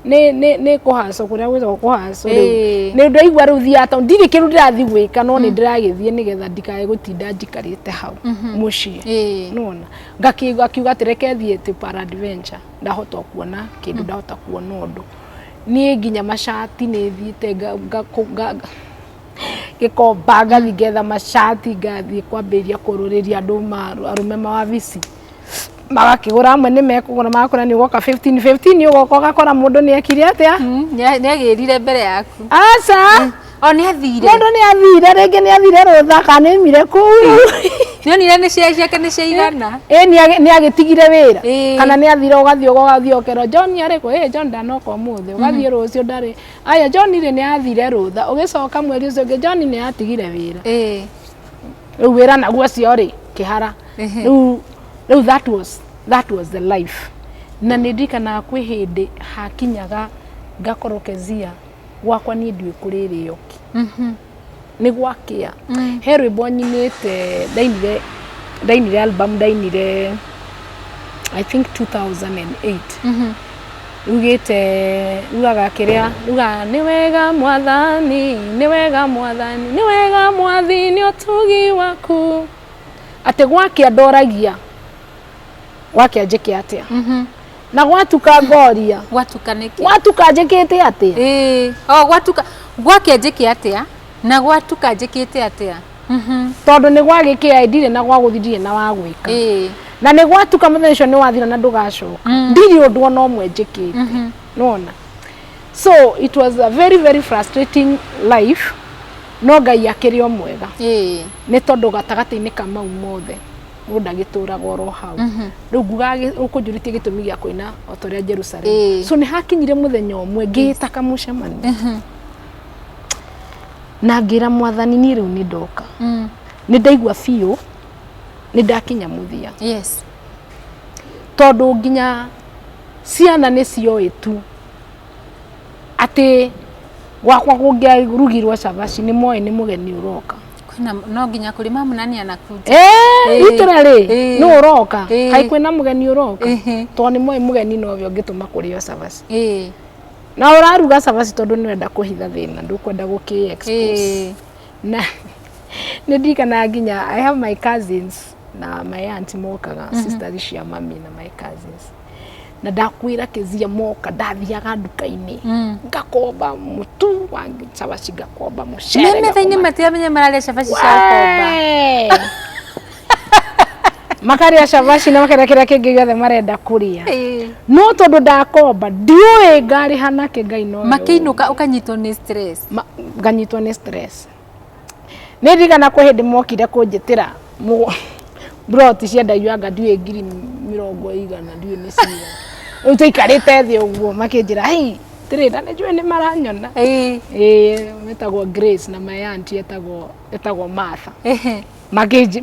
nĩ nĩ nĩ kũhacwo kũrĩa gwĩtagwo kũhacwo rĩu Ĩĩ. nĩ ndaigua rĩu thiaga tondũ ndirĩ kĩndũ ndĩrathiĩ gwĩka no nĩ ndĩragĩthiĩ nĩgetha ndikae gũtinda njikarĩte hau mũciĩ Ĩĩ. nona ngakiuga atĩ reke thiĩ tĩ para adventure ndahota kuona kĩndũ ndahota kuona ũndũ niĩ nginya macati nĩ thiĩte gĩkomba ngathi ngetha macati ngathiĩ kwambĩrĩria kũrũrĩria andũ arũme mawabici magakĩgũra amwe nĩ mekũgũra magakora nĩ ũgoka 15 15 ũgoka ũgakora mũndũ nĩ ekire atĩa nĩ agĩrire mbere yaku aca O nĩ athire. Mũndũ nĩ athire rĩngĩ nĩ athire rũtha kana nĩ mire kũu. Nĩonire nĩ cia ciake nĩ ciaigana. Ĩĩ nĩ agĩtigire wĩra. Kana nĩ athire ũgathiĩ ũgathiĩ ũkerwo John arĩ kũ? Ĩĩ John ndanoka ũmũthĩ. Mhm. Ũgathiĩ rũciũ ndarĩ. Aya John rĩ nĩ athire rũtha. Ũgĩcoka mweri ũcio ũngĩ John nĩ atigire wĩra. Ĩĩ. Rĩu wĩra naguo ũcio rĩ kĩhara. Rĩu rĩu that was that was the life. Na nĩ ndirikanaga kwĩ hĩndĩ hakinyaga ngakorwo Kezia. gwakwa niĩ ndiũĩ kũrĩrĩo ki mhm. nĩ gwakĩa mm. he rwĩmbo nyinĩte ndainire ndainire album ndainire i think 2008 mhm. rugĩte rugaga kĩrĩa rugaga nĩ wega mwathani nĩ wega mwathani nĩ wega mwathi nĩ ũtugi waku atĩ gwakĩa ndoragia gwake anjĩke atĩa Mhm. na gwatuka ngoria gwatuka nĩkĩ gwatuka njĩkĩte atĩa Ĩĩ, o gwatuka gwake njĩke atĩa na gwatuka njĩkĩte atĩa Mhm. tondũ nĩ gwagĩkĩa ndirĩ na gwagũthi ndirĩ na wa gwĩka Ĩĩ. na nĩ gwatuka mũthenya ũcio nĩ wathira na ndũgacoka Mm. ndirĩ ũndũ ona ũmwe njĩkĩte Mhm. nona so it was a very very frustrating life no ngai akĩrĩ o mwega Ĩĩ. nĩ tondũ gatagatĩ-inĩ ka mau mothe mũndũ ndagĩtũraga oro hau rĩu nguga ũkũnjũrĩtie gĩtũmi gĩa kũina o ta ũrĩa jerusalemu Ĩĩ. so nĩ hakinyire mũthenya ũmwe ngĩĩta kamũcemanio na ngĩra mwathani niĩ rĩu nĩ ndoka Mm. nĩ ndaigua biũ nĩ ndakinya mũthia yes tondũ nginya ciana nĩ cioĩ tu atĩ gwakwa kũngĩarugirwo cabaci nĩ moĩ nĩ mũgeni ũroka kwĩna no nginya kũrĩ mamu na nĩ anakunja Eh, itũra rĩ Eh. nĩ ũroka Eh. kaĩ kwĩna mũgeni ũroka Ehe. tondũ nĩ moĩ mũgeni nowe ũngĩtũma kũrĩo cabaci ĩĩ na ũraruga cabaci tondũ nĩ wenda kũhitha thĩna ndũkwenda gũkĩ expose ĩĩ na nĩ ndirikanaga nginya I have my cousins na my aunt mokaga mm -hmm. sisters cia mami na my cousins na ndakwira kizia moka ndathiaga nduka-inĩ mm. ngakomba mutu wa cabaci ngakomba mucere mimi thaini matiramenya mararia cabaci cia komba makarĩa cabaci na makarĩa kĩrĩa kĩngĩ gĩothe marenda kũrĩa no tondũ ndakomba ndiũĩ ngarĩha nake ngai no makĩinũka ũkanyitwo nĩ stress nganyitwo nĩ stress Nĩ ndirikana kwĩ hĩndĩ mokire kũnjĩtĩra mburoti ciendagio anga ndiũĩ ngiri mĩrongo igana ndiũĩ nĩ cigana. Rĩu twaikarĩte thĩ ũguo makĩnjĩra hei atĩrĩ na nĩ njũĩ nĩ maranyona. Ĩĩ metagwo Grace na my aunt etagwo Martha.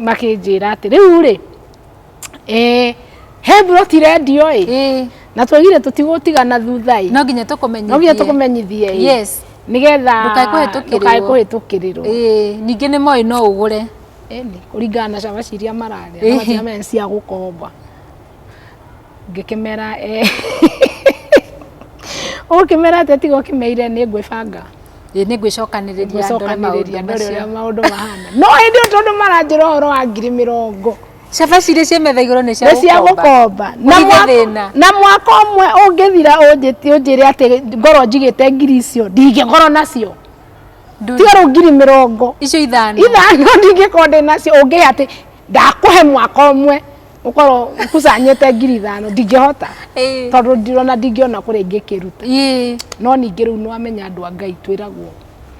Makĩnjĩra atĩ rĩu rĩ eh he buroti rendio ĩ ĩ na twagire tũtigũtigana thutha ĩ no nginya tũkũmenyithie no nginya tũkũmenyithie ĩ yes nĩgetha Ndũkae kũhĩtũkĩrĩrwo. ndũkae kũhĩtũkĩrĩrwo ĩ ningĩ nĩ moĩ no ũgũre Ĩni, kũringana na cama ciria mararĩa Ĩhĩ. namaciamene nĩ cia gũkomba ngĩkĩmera eh. ũkĩmera atĩ tiga ũkĩmeire nĩ ngwĩbanga ĩ nĩ ngwĩcokanĩrĩria ndore maũndũ ngwĩcokanĩrĩria ndore ũrĩa macio maũndũ mahana no hĩndĩ ĩyo tondũ maranjĩra ũhoro wa ngiri mĩrongo Cabaci iria ciĩ metha igũrũ nĩ cia nĩ cia gũkomba. gũkomba na Ũgithe mwaka- thĩna. na mwaka ũmwe ũngĩthira ũnjĩti- ũnjĩre atĩ ngorwo njigĩte ngiri icio ndingĩkorwo nacio Nduri. tiorũ ngiri mĩrongo Icio ithano. ithano ndingĩkorwo ndĩ nacio ũngĩhe atĩ ndakũhe mwaka ũmwe ũkorwo ũkucanyĩte ngiri ithano ndingĩhota Ĩĩ. tondũ ndirona ndingĩona kũrĩa ingĩkĩruta Ĩĩ. no ningĩ rĩu nĩwamenya andũ a ngai twĩragwo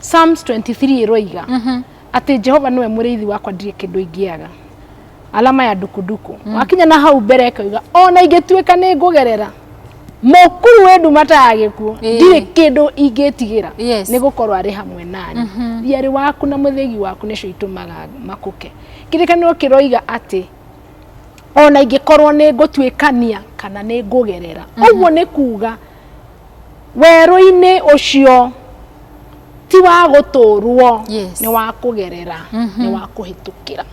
Psalms 23 ĩroiga mhm. atĩ Jehova nĩwe mũrĩithi wakwa ndirĩ kĩndũ ingĩaga alama ya dukuduku mm. wakinya na hau mbere ĩkauga ona ingĩtuĩka nĩ ngũgerera mũkuru wĩ ndumata ya gĩkuũ ndirĩ kĩndũ ingĩtigĩra nĩ gũkorwo arĩ hamwe nani mhm. thiarĩ waku na mũthĩgi waku nĩcio itũmaga makũke kĩrĩkanĩro kĩroiga atĩ ona ingĩkorwo nĩ ngũtuĩkania kana nĩ ngũgerera mhm. ũguo nĩ kuga Werũ-inĩ ũcio ti wa gũtũũrwo yes. nĩ wa kũgerera mm -hmm. nĩ wa kũhĩtũkĩra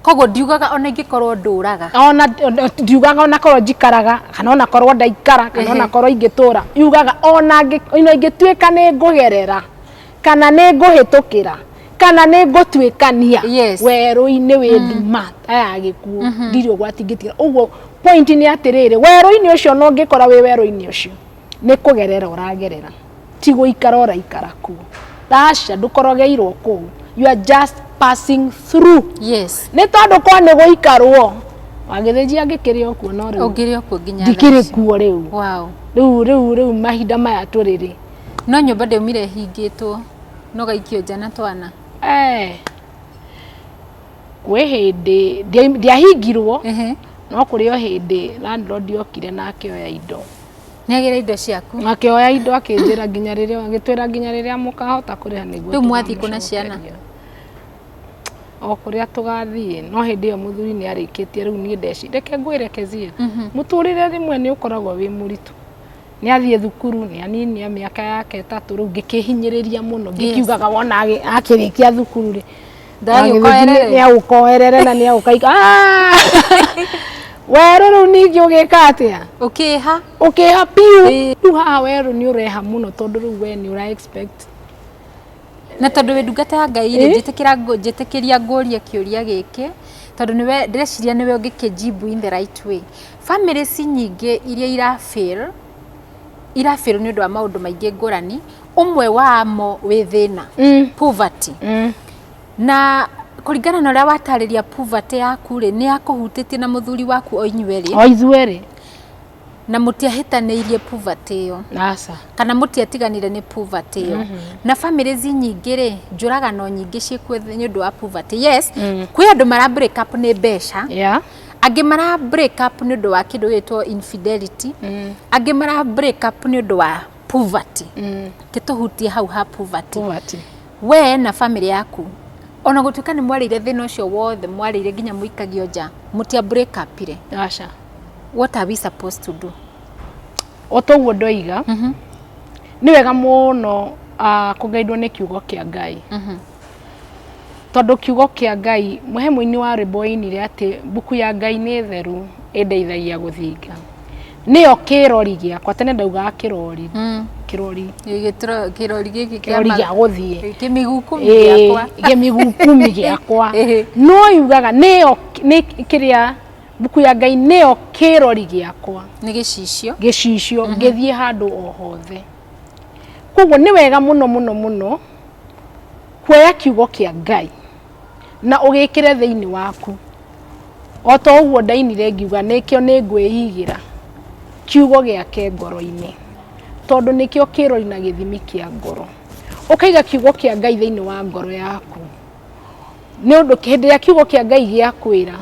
koguo ndiugaga ona ingĩkorwo ndũraga ona ndiugaga ona korwo njikaraga kana ona korwo ndaikara kana ona korwo ingĩtũra yugaga ona ingĩtuĩka nĩ ngũgerera kana nĩ ngũhĩtũkĩra kana nĩ ngũtuĩkania yes. werũ-inĩ wĩ mm. nduma ta ya gĩkuũ mm -hmm. ndirĩ ũgwati ngĩtiga ũguo point nĩ atĩrĩrĩ werũ-inĩ ũcio no ngĩkora wĩ werũ-inĩ ũcio nĩ kũgerera ũragerera ti gũikara ũraikara kuo aca ndũkorogeirwo kũu you are just passing through yes nĩ tondũ kwa nĩ gũikarwo wagĩthĩnjia ngĩkĩrĩ o kuo no rĩu ngĩkĩrĩ kuo rĩu rĩu rĩu rĩu mahinda maya tũrĩ rĩ No nyũmba ndaumire ĩhingĩtwo no gaikio nja na twana. Eh. Kwĩ hĩndĩ ndiahingirwo no kũrĩ o hĩndĩ landlord okire na akĩoya indo. Nĩagĩra indo ciaku? Akĩoya indo akĩnjĩra nginya rĩrĩa agĩtwĩra nginya rĩrĩa mũkahota kũrĩha nĩguo. Rĩu mwathiĩ kũ na ciana? o kũrĩa tũgathiĩ no hĩndĩ ĩyo mũthuri nĩ arĩkĩtie rĩu niĩ ndeci reke ngwĩre kezia mhm. mũtũrĩre rĩmwe nĩ ũkoragwo wĩ mũritũ nĩ athiĩ thukuru nĩ anini mĩaka yake ĩtatũ rĩu ngĩkĩhinyĩrĩria mũno ngĩkiugaga wona agĩ- akĩrĩkia thukuru rĩ Ndagagĩũka erere. nĩ agũka oerere na nĩ agũka ika- Ah! werũ rĩu ningĩ ũgĩka atĩa ũkĩha ũkĩha biũ Ĩĩ. rĩu haha werũ nĩ ũreha mũno tondũ rĩu we nĩ ũra expect na tondũ wĩ ndungata ya ngai rĩ Ĩ? njĩtĩkĩra ngũ- njĩtĩkĩria ngũrie kĩũria gĩkĩ tondũ nĩwe ndĩreciria nĩwe ũngĩkĩnjimbu in the right way Bamĩrĩ ci nyingĩ iria ira fail, ira fail nĩ ũndũ wa maũndũ maingĩ ngũrani, ũmwe wamo wĩ thĩna, poverty. Na kũringana na ũrĩa watarĩria poverty yaku rĩ, nĩ yakũhutĩtie na mũthuri waku o inyuĩ erĩ? O ithuĩ erĩ. Na mũtiahĩtanĩirie poverty ĩyo? Aca. Kana mũtiatiganire nĩ poverty ĩyo? Na bamĩrĩ ci nyingĩ rĩ, njũragano nyingĩ ciĩkuo nĩ ũndũ wa poverty. Yes, kwĩ andũ mara break up nĩ mbeca. Yeah. angĩ mara break up nĩ ũndũ wa kĩndũ gĩtwo infidelity angĩ mara break up nĩ ũndũ wa poverty kĩtũhutie hau ha poverty Poverty. we na bamĩrĩ yaku ona gũtuĩka nĩ mwarĩire thĩna ũcio wothe mwarĩire nginya mũikagio nja mũtia break up ire aca what are we supposed to do o toguo ndoiga nĩ wega mũno ah, kũgeithwo nĩ kiugo kĩa ngai Tondũ kiugo kĩa Ngai, mũhe mũini wa rwĩmbo oinire atĩ mbuku ya Ngai nĩ theru ĩndeithagia gũthinga. Nĩyo kĩrori gĩakwa, tene ndaugaga kĩrori, mm. kĩrori kĩrori gĩkĩ kĩrori gĩa gũthiĩ kĩmigukumi gĩakwa kĩmigukumi gĩakwa no yugaga nĩyo nĩ kĩrĩa mbuku ya Ngai nĩyo kĩrori gĩakwa nĩ gĩcicio gĩcicio mhm. ngĩthiĩ handũ o hothe koguo nĩ wega mũno mũno mũno kuoya kiugo kĩa Ngai na ũgĩkĩre thĩinĩ waku. O ta ũguo ndainire ngiuga nĩkĩo nĩ ngwĩigĩra kiugo gĩake ngoro-inĩ, tondũ nĩkĩo kĩroi na gĩthimi kĩa ngoro. Ũkaiga kiugo kĩa Ngai thĩinĩ wa ngoro yaku, nĩ ũndũ hĩndĩ ĩrĩa kiugo kĩa Ngai gĩakwĩra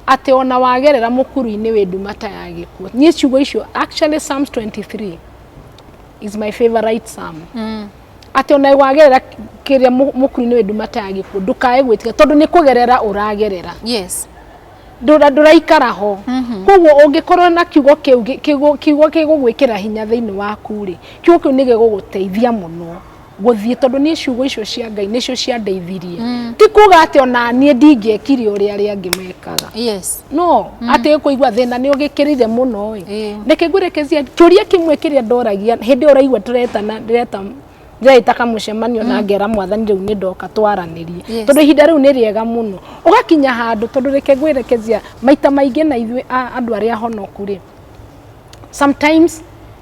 atĩ ona wagerera mũkuru-inĩ wĩ nduma ta ya gĩkuũ. Niĩ ciugo icio actually Psalms 23 is my favourite psalm. atĩ ona wagerera kĩrĩa mũkuru-inĩ wĩ nduma ta ya gĩkuũ ndũkae gwĩtĩka tondũ nĩ kũgerera ũragerera yes ndũra- ndũraikara ho koguo ũngĩkorwo na kiugo kĩu gĩ- kĩgu- kiugo kĩgũgwĩkĩra hinya thĩinĩ waku rĩ kiugo kĩu nĩ gĩgũgũteithia mũno gũthiĩ tondũ niĩ ciugo icio cia ngai nĩcio ciandeithirie ti kuga atĩ ona niĩ ndingĩekire ũrĩa arĩa angĩ mekaga yes no mm. atä kå igua thä na nä å gä kä rire må no ä reke ngwä rekecia kä ria kä mwe kä rä a ndoragia hä ndä ä yo raigua ndä retana ndä reta ndĩreta kamũcemanio na mm. ngera mwathani rĩu nĩ ndoka twaranĩrie tondũ ihinda rĩu nĩ rĩega mũno ũgakinya handũ tondũ reke ngwĩrekezia maita maingĩ na ithuĩ andũ arĩa honoku rĩ sometimes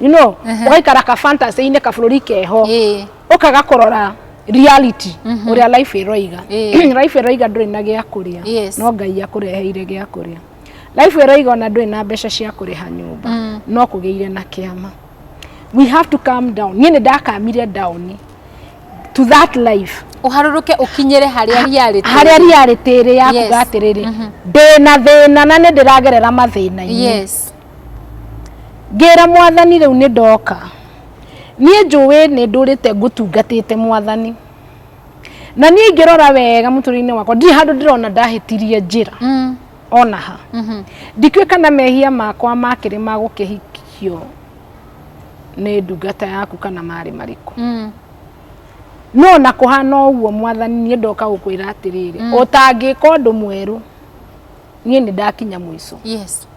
you know ugaikara ka fantasy ine ka bururi keho ukaga kurora reality mhm. uria life iroiga life iroiga nduri na gia kuria no ngai akureheire gia kuria life iroiga ona nduri na mbeca cia kuriha nyumba mm. no kugeire na kiama we have to calm down nie ni ndakamire down to that life uharuruke ukinyire haria reality haria reality ri ya kuga atiriri mhm. ndina thina na ni ndiragerera mathina yes Ngĩra mwathani rĩu nĩ ndoka, niĩ njũĩ nĩ ndũrĩte ngũtungatĩte mwathani, na niĩ ingĩrora wega mũtũrĩre-inĩ wakwa ndirĩ handũ ndĩrona ndahĩtirie njĩra mm. ona ha mm -hmm. ndikĩũĩ kana mehia makwa makĩrĩ ma gũkĩhikio nĩ ndungata yaku kana marĩ marĩkũ mm. no na kũhana ũguo mwathani niĩ ndoka gũkwĩra atĩrĩrĩ mm. ũtangĩka ũndũ mwerũ niĩ nĩ ndakinya mũico yes.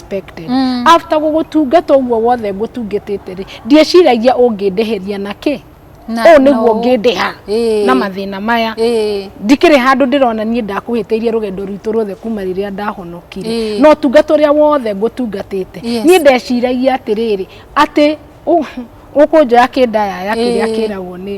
expected mm. after gũgũtungata ũguo wothe ngũtungatĩte rĩ ndieciragia ũngĩndĩhĩria na kĩ ũũ nĩguo ngĩndĩha na mathĩna maya ndikĩrĩ handũ ndĩrona niĩ ndakuhĩtĩirie rũgendo rwitũ ruothe kuma rĩrĩa ndahonokire no tungata ũrĩa wothe ngũtungatĩte niĩ ndeciragia atĩrĩrĩ atĩ ũkũnjoya kĩndayaya kĩrĩa kĩragwo nĩ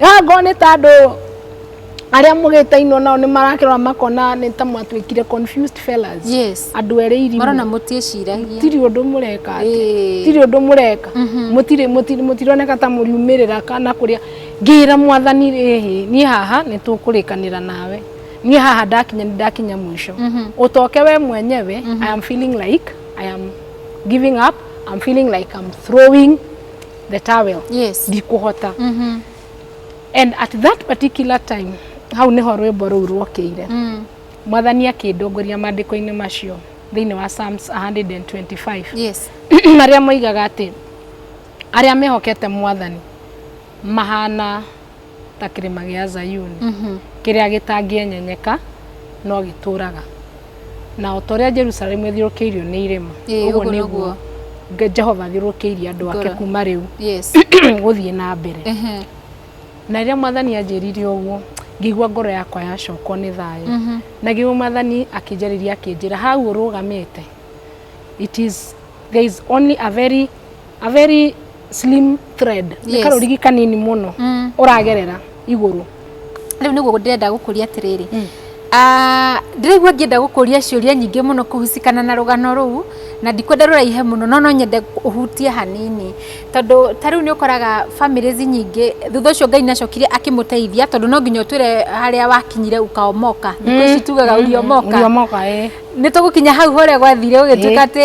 Haha ngona nĩ ta andũ arĩa mũgĩtainwo nao nĩ marakĩrora makona nĩ ta mwatuĩkire confused fellas Yes. andũ erĩ irimũ Marona mũtiĩciragia. tiri ũndũ mũreka atĩ Ĩĩ. tiri ũndũ mũreka mũtirĩ mũtirĩ- mũtironeka ta mũriumĩrĩra kana kũrĩa ngĩra mwathani rĩhĩ niĩ haha nĩ tũkũrĩkanĩra nawe niĩ haha ndakinya nĩ ndakinya mũico ũtoke we mwenyewe i am feeling like i am giving up i'm feeling like i'm throwing the towel yes ndikũhota mhm and at that particular time hau nĩho rwĩmbo rũu rwokĩire mm mwathani akĩndongoria maandĩko-inĩ macio thĩinĩ wa Psalms 125 yes marĩa moigaga atĩ arĩa mehokete mwathani mahana ta kĩrĩma gĩa Zayuni mhm. kĩrĩa gĩtangĩenyenyeka no gĩtũraga na o ta ũrĩa Jerusalemu ĩthiũrũkĩirio nĩ irĩma ũguo nĩguo Jehova athiũrũkĩirie andũ ake kuma rĩu gũthiĩ na mbere na rĩrĩa mwathani anjĩrire ũguo ngĩigua ngoro yakwa yacokwo nĩ thayũ mhm. na ngĩigua mwathani akĩnjarĩria akĩnjĩra hau ũrũgamĩte it is there is only a very a very slim thread nĩ Yes. karũrigi kanini mũno Mm. ũragerera igũrũ rĩu nĩguo ndĩrenda gũkũria atĩrĩrĩ Ah, ndĩraigua ngĩenda gũkũria ciũria nyingĩ mũno kũhucikana na rũgano rũu na ndikwenda rũraihe mũno no no nyende ũhutie hanini tondũ ta rĩu nĩ ũkoraga families nyingĩ thutha ũcio ngai nacokire akĩmũteithia tondũ no nginya ũtwĩre harĩa wakinyire ũkaomoka thikũ ici tugaga ũriomoka ũriomoka ĩ nĩ tũgũkinya hau hore gwathire ũgĩtuĩka atĩ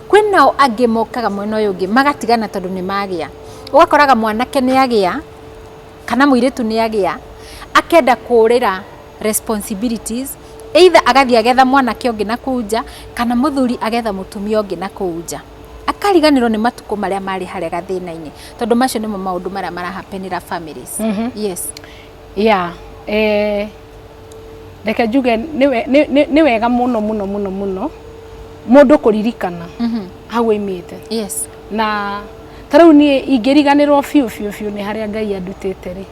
Kwĩ nao angĩ mokaga mwena ũyũ ũngĩ magatigana tondũ nĩ magĩa. Ũgakoraga mwanake nĩ agĩa kana mũirĩtu nĩ agĩa akenda kũũrĩra responsibilities either agathiĩ agetha mwanake ũngĩ na kũu nja kana mũthuri agetha mũtumia ũngĩ na kũu nja. Akariganĩrwo nĩ matukũ marĩa marĩ harĩa gathĩna-inĩ tondũ macio nĩmo maũndũ marĩa mara happen ĩra families. Yes. ya eh, reke njuge nĩ we- nĩ- nĩ- nĩ wega mũno mũno mũno mũno mũndũ kũririkana Mhm. hau oimĩte yes na ta rĩu niĩ ingĩriganĩrwo biũ biũ biũ nĩ harĩa ngai andutĩte rĩ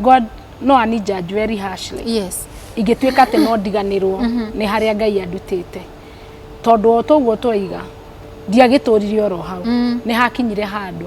god no ani judge very harshly yes ingĩtuĩka atĩ no ndiganĩrwo nĩ harĩa ngai andutĩte tondũ o toguo twaiga ndiagĩtũrire oro hau Mm. nĩ hakinyire handũ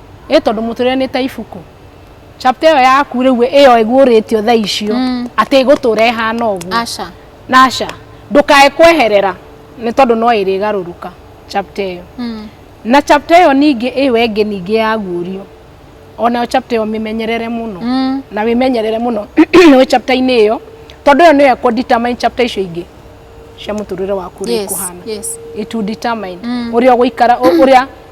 ĩ tondå må tå rä re nä ta ibuku chapter ä yo yaku rä u ä yo ä guå rä tio tha icio Mm. atä ä gå tå ra ä hana å guo aca naca ndũkae kweherera nĩ tondũ no ĩrĩgarũrũka chapter ĩyo Mm. na chapter ĩyo ningĩ ĩyo ĩngĩ ningĩ ya guũrio onayo chapter ĩyo mĩmenyerere mũno Mm. na wĩmenyerere mũno wĩ chapter-inĩ ĩyo tondũ ĩyo nĩyo ĩkũ determine chapter icio ingĩ cia mũtũrĩre waku ũrĩa Yes, ikũhana yes. it will determine Mm. ũrĩa ũgũikara ũ- ũrĩa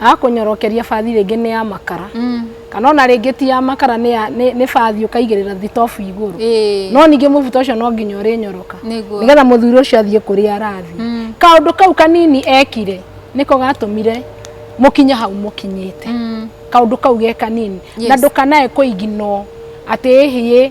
Akũnyorokeria bathi rĩngĩ nĩ ya makara mm. kana ona rĩngĩ ti ya makara nĩ ya nĩ bathi ũkaigĩrĩra thitobu igũrũ mm. no ningĩ mũbuto ũcio no nginya ũrĩ nyoroka nĩgetha mũthuri ũcio athiĩ kũrĩa arathi mm. kaũndũ kau kanini ekire nĩko gatũmire mũkinye hau mũkinyĩte mm. kaũndũ kau ge kanini yes. na ndũkanae kũiginwo atĩ ĩhiĩ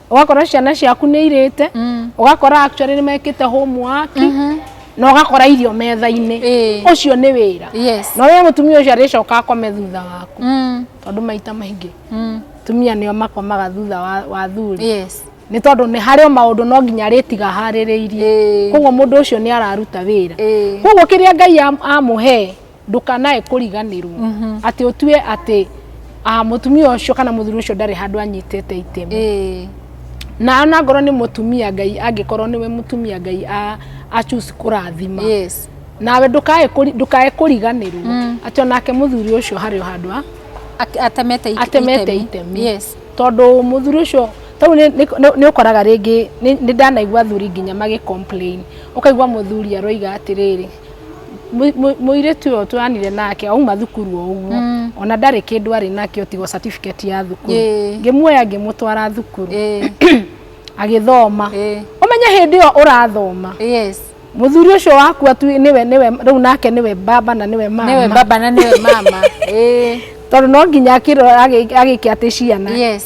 ũgakora ciana ciaku nĩ irĩte mm. ũgakora actually nĩ mekĩte homework mm -hmm na ũgakora irio metha-inĩ ũcio nĩ wĩra na ũrĩa mũtumia ũcio arĩcoka akome thutha waku mm. tondũ maita maingĩ mm. tumia nĩo makomaga thutha wa thuri nĩ tondũ nĩ harĩ maũndũ no nginya arĩtiga harĩrĩirie koguo mũndũ ũcio nĩ araruta wĩra koguo kĩrĩa ngai amũhe ndũkanae kũriganĩrwo atĩ ũtue atĩ ah, mũtumia ũcio kana mũthuri ũcio ndarĩ handũ anyitĩte itemi Ĩĩ. na ona ngorwo nĩ mũtumia ngai angĩkorwo nĩwe mũtumia ngai a- a choose kũrathima Yes. nawe ndũkae kũri- ndũkae kũriganĩrwo atĩ onake mũthuri ũcio harĩ o handũ ha Ake- atemete it- atemete itemi Yes. tondũ mũthuri ũcio tau nä å koraga rä ngä nä ndanaigua athuri nginya magä complain. å kaigua må thuri aroiga atä rä rä mũirĩtu ũyũ twanire nake auma thukuru o ũguo mm. ona ndarĩ kĩndũ arĩ nakĩo tigo certificate ya thukuru ngĩmuoya ngĩmũtwara thukuru agĩthoma ũmenye hĩndĩ ĩyo ũrathoma muthuri ucio waku atu niwe niwe riu nake niwe baba na niwe mama niwe baba na niwe mama eh tondu no nginya akirora agike ati ciana yes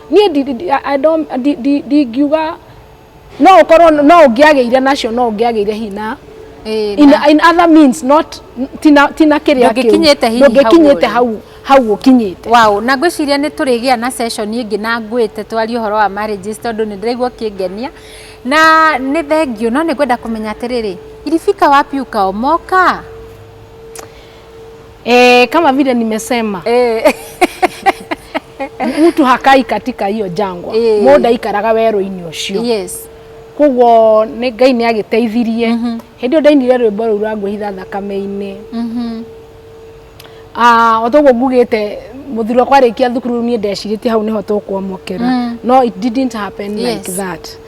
niĩ ndi- ndi- I- I don't- ndi- ndi- ndingiuga no ũkorwo no ũngĩagĩire nacio no ũngĩagĩire hina Eh, in, na- in other means not tina tina kĩrĩa kĩu. Ndũngĩkinyĩte hihi hau ndũngĩkinyĩte ũrĩ. hau hau ũkinyĩte wow na ngwĩciria nĩ tũrĩgĩa na session ĩngĩ na ngwĩte twarie ũhoro wa marriages tondũ nĩ ndĩraigua kĩngenia na nĩ thengio no nĩ ngwenda kũmenya atĩrĩrĩ iribika wapi ukaomoka e, kama vile nimesema Eh. mtu hakai katika hiyo jangwa Eh. mũndũ aikaraga werũ-inĩ ũcio yes koguo nĩ ngai nĩ agĩteithirie hĩndĩ ĩyo ndainire rwĩmbo rũu rwa ngwĩhitha thakame-inĩ Mhm. Ah, o toguo ngugĩte mũthuri wakwa arĩkia thukuru niĩ ndecirĩtie hau nĩho tũkwamũkĩra Mm. no it didn't happen like Yes. that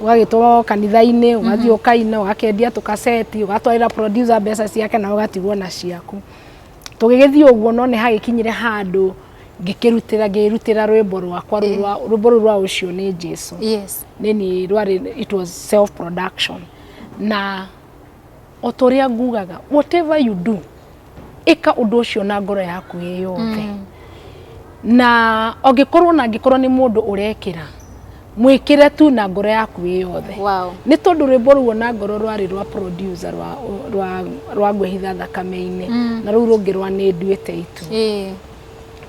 ũgagĩtwarwo kanitha-inĩ ũgathiĩ ũkaina ũgakendia tũkaceti ũgatwarĩra producer mbeca ciake na ũgatigwo na ciaku tũgĩgĩthiĩ ũguo no nĩ hagĩkinyire handũ ngĩkĩrutĩra ngĩrutĩra rwĩmbo rwakwa rũu rwa rwĩmbo rũu rwa ũcio nĩ Jesu yes nini rwarĩ it was self production na o ta ũrĩa ngugaga whatever you do ĩka ũndũ ũcio na ngoro yaku ĩ yothe mm. na angĩkorwo na angĩkorwo nĩ mũndũ ũrekĩra mwĩkĩre tu na ngoro yaku ĩ yothe wow. nĩ tondũ rwĩmbo ruo na ngoro rwarĩ rwa producer rwa, rwa, rwa ngwĩhitha thakame-inĩ mm. na rũu rũngĩ rwa nĩ nduĩte itu yeah.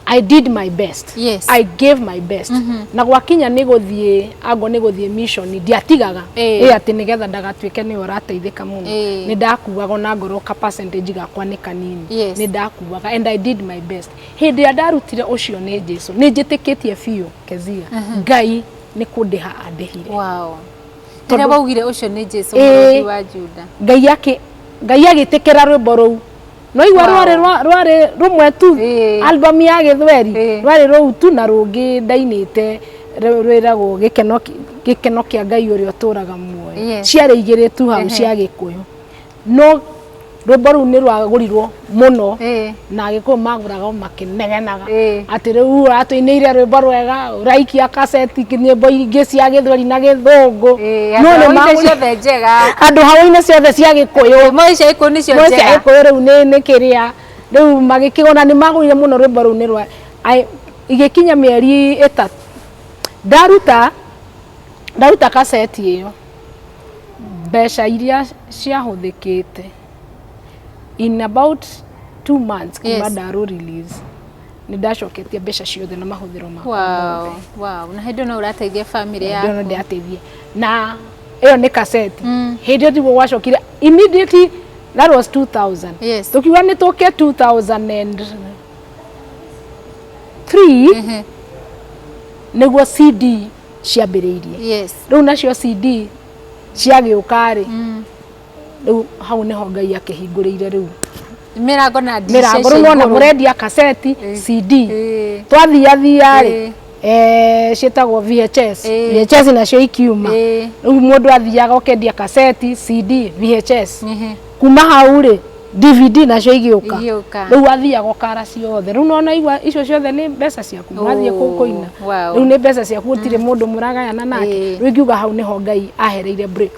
I did my best Yes. I gave my best na gwakinya nĩ gũthiĩ ango nĩ gũthiĩ mission ndiatigaga Eh. ĩ atĩ nĩgetha ndagatuĩke nĩwe ũrateithĩka mũno Eh. nĩ ndakuaga ona ngorwo ka percentage gakwa nĩ kanini Yes. nĩ ndakuaga and I did my best hĩndĩ ĩrĩa ndarutire ũcio nĩ Jesu nĩ njĩtĩkĩtie biũ kezia Ngai nĩ kũndĩha andĩhire wow Tondũ- rĩrĩa waugire ũcio nĩ jesu Ĩĩ. mũrũthi wa juda ngai akĩ ngai agĩtĩkĩra rwĩmbo rũu nwaigua Wow. rwarĩ rwa- rwarĩ rũmwe tu Ĩĩ. album ya gĩthweri Ĩĩ. rwarĩ rũu tu na rũngĩ ndainĩte rũ- rwĩragwo gĩkeno kĩ- gĩkeno kĩa ngai ũrĩa ũtũraga muoyo Yes. ciarĩ igĩrĩ tu hau Ehe. cia gĩkũyũ no rwĩmbo rũu nĩ rwagũrirwo mũno Ĩĩ. na agĩkũyũ magũraga o ma- kĩnegenaga Ĩĩ. atĩ rĩu atũinĩire rwĩmbo rwega ũraikia kaseti nyĩmbo ingĩ cia gĩthweri na gĩthũngũ Ĩĩ, No andũ nĩ hau-inĩ ma- ciothe njega andũ hau-inĩ ciothe cia gĩkũyũ moĩ cia ikũyũ nĩcio moĩ cia njega gĩkũyũ rĩu nĩ nĩ kĩrĩa rĩu magĩkĩgona nĩ magũire mũno rwĩmbo rũu nĩ rwa I- igĩkinya mĩeri ĩtatũ ndaruta ndaruta kaseti ĩyo mbeca iria ciahũthĩkĩte in about two months kuma Yes. ndarũ release nĩ ndacoketie mbeca ciothe na mahũthĩro makwa wow mothe. wow na hĩndĩ no ũrateithia family Ndio yaku ndateithie na ĩyo nĩ kaseti Mm. hĩndĩ ĩyo tiguo gwacokire immediately that was 2000 Yes. tukiuga nĩ tũke 2003 Ehe. nĩguo cd ciambĩrĩirie yes rĩu nacio cd ciagĩũka rĩ Mm. rĩu hau nĩho ngai akĩhingũrĩire rĩu mĩrango na mĩrango rĩu nona mũrendia kaseti cd twathiathia rĩ eh, ciĩtagwo VHS VHS nacio ikiuma rĩu mũndũ athiaga ũkendia kaseti CD VHS kuma hau rĩ DVD nacio igĩũka rĩu athiaga ũkara ciothe rĩu nona igua icio ciothe nĩ mbeca ciaku mwathiĩ kũu kũina rĩu nĩ mbeca ciaku gũtirĩ mũndũ mũragayana nake rĩu ingiuga hau nĩho Ngai ahereire break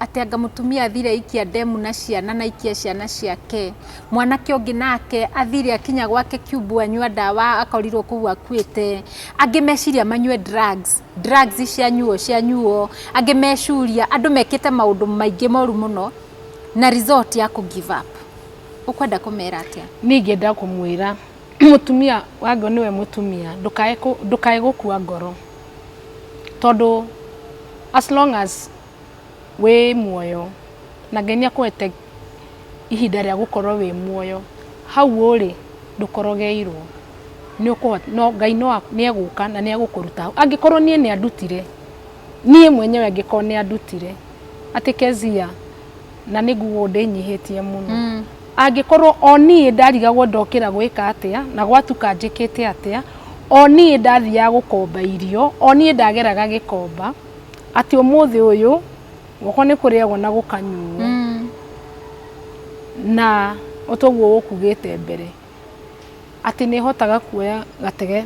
atĩ anga mũtumia athire aikia ndemu na ciana na aikia ciana ciake mwanake ũngĩ nake athire akinya gwake kiumbu anyua ndawa akorirwo kũu akuĩte angĩ meciria manyue drugs drugs cianyuo cianyuo angĩ meciria andũ mekĩte maũndũ maingĩ moru mũno na result ya kũ give up ũkwenda kũmera atĩa niĩ ingĩenda kũmwĩra mũtumia wangĩ nĩwe mũtumia ndũkae kũ- ndũkae gũkua ngoro tondũ as long as wĩ muoyo, na Ngai nĩ akũhete ihinda rĩa gũkorwo wĩ muoyo, hau ũrĩ ndũkorogeirwo, Ngai nĩ egũka na nĩ egũkũruta hau. Angĩkorwo niĩ nĩ andutire, niĩ mwenyewe angĩkorwo nĩ andutire, atĩ Kezia, na nĩ nguga ũũ ndĩnyihĩtie mũno, angĩkorwo o niĩ ndarigagwo ndokĩra gwĩka atĩa, na gwatuka njĩkĩte atĩa, o niĩ ndathiaga gũkomba irio, o niĩ ndageraga gĩkomba, atĩ ũmũthĩ ũyũ gwakwa nĩ kũrĩagwo na gũkanyuo mm. na ũtoguo gũkugĩte mbere atĩ nĩ hotaga kuoya gatege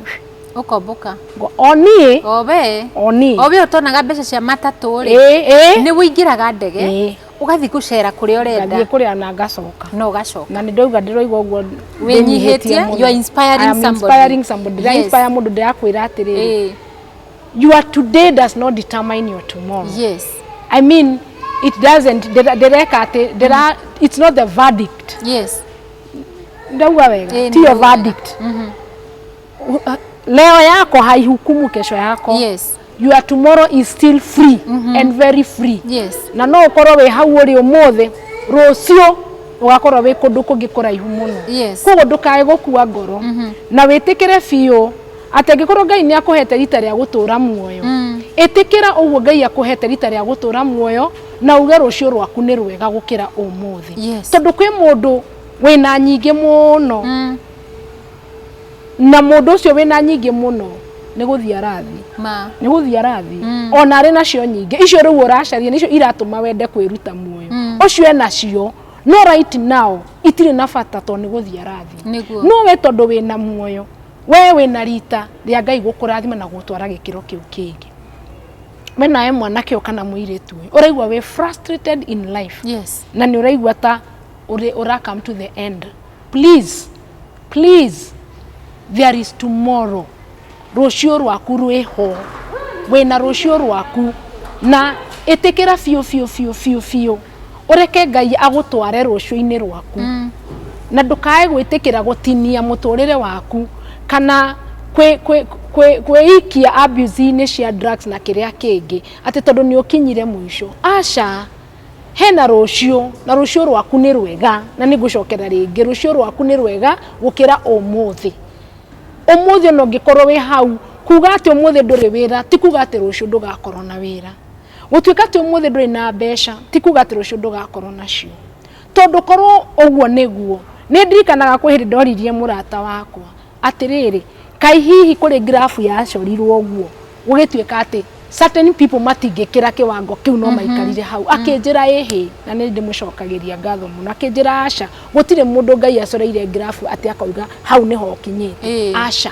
ukomboka oni obe oni obe utonaga mbeca cia matatũ ri eh, eh. ni wingiraga ndege eh. ugathi gucera kuria urenda ngathiĩ kuria na ngacoka no gacoka na ndoiga ndiroiga uguo winyihitie you are inspiring somebody inspiring somebody yes. inspire mundu ndirakwira atiri your today does not determine your tomorrow yes i mean it doesn't ndĩra- ndĩreka atĩ ndĩra it's not the verdict yes ndauga wega Ĩĩ, tiyo nĩguo. verdict U- a- leo yako haihukumu kesho yako yes your tomorrow is still free and very free yes na no ũkorwo wĩ hau ũrĩ ũmũthĩ rũciũ ũgakorwo wĩ kũndũ kũngĩ kũraihu mũno yes koguo ndũkae gũkua ngoro na wĩtĩkĩre biũ atĩ angĩkorwo ngai nĩ akũhete rita rĩa gũtũra muoyo mm. ĩtĩkĩra ũguo ngai akũhete rita rĩa gũtũra muoyo na uge rũciũ rwaku nĩ rwega gũkĩra ũmũthĩ yes. tondũ kwĩ mũndũ wĩna nyingĩ mũno mm. na mũndũ ũcio wĩna nyingĩ mũno nä gå thiä arathi nä gå thiä arathi mm. ona arä nacio nyingä icio rä u å racaria nä icio iratå ma wende kwä ruta muoyo mm. å cio enacio no right now itirä na bata tondå nä gå thiä arathi no we tondå wä na muoyo we wĩ na rita rĩa ngai gũkũrathima na gũtwara gĩkĩro kĩu kĩngĩ we nawe mwanake ũyũ kana mũirĩtu ũyũ ũraigua wĩ frustrated in life yes na nĩ ũraigua ta ũrĩ- ũra come to the end please please there is tomorrow rũciũ rwaku rwĩho wĩna rũciũ rwaku na ĩtĩkĩra biũ biũ biũ biũ biũ ũreke ngai agũtware rũciũ-inĩ rwaku mm. na ndũkae gwĩtĩkĩra gũtinia mũtũrĩre waku kana kwĩikia abuse-inĩ cia drugs na kĩrĩa kĩngĩ atĩ tondũ nĩ ũkinyire mũico aca hena rũciũ na rũciũ rwaku nĩ rwega na nĩ ngũcokera rĩngĩ rũciũ rwaku nĩ rwega gũkĩra ũmũthĩ ũmũthĩ ona ũngĩkorwo wĩ hau kuga atĩ ũmũthĩ ndũrĩ wĩra ti kuga atĩ rũciũ ndũgakorwo na wĩra Gũtuĩka atĩ ũmũthĩ ndũrĩ na mbeca ti kuga atĩ rũciũ ndũgakorwo nacio. Tondũ korwo ũguo nĩguo, nĩ ndirikanaga kwĩ hĩndĩ ndoririe mũrata wakwa atĩrĩrĩ, kaĩ hihi kũrĩ ngirabu yacorirwo ũguo gũgĩtuĩka atĩ certain people matingĩkĩra kĩwango kĩu no maikarire hau. Akĩnjĩra ĩhĩ, na nĩ ndĩmũcokagĩria ngatho mũno. Akĩnjĩra aca, gũtirĩ mũndũ Ngai acoreire ngirabu atĩ akauga hau nĩho ũkinyĩte, aca.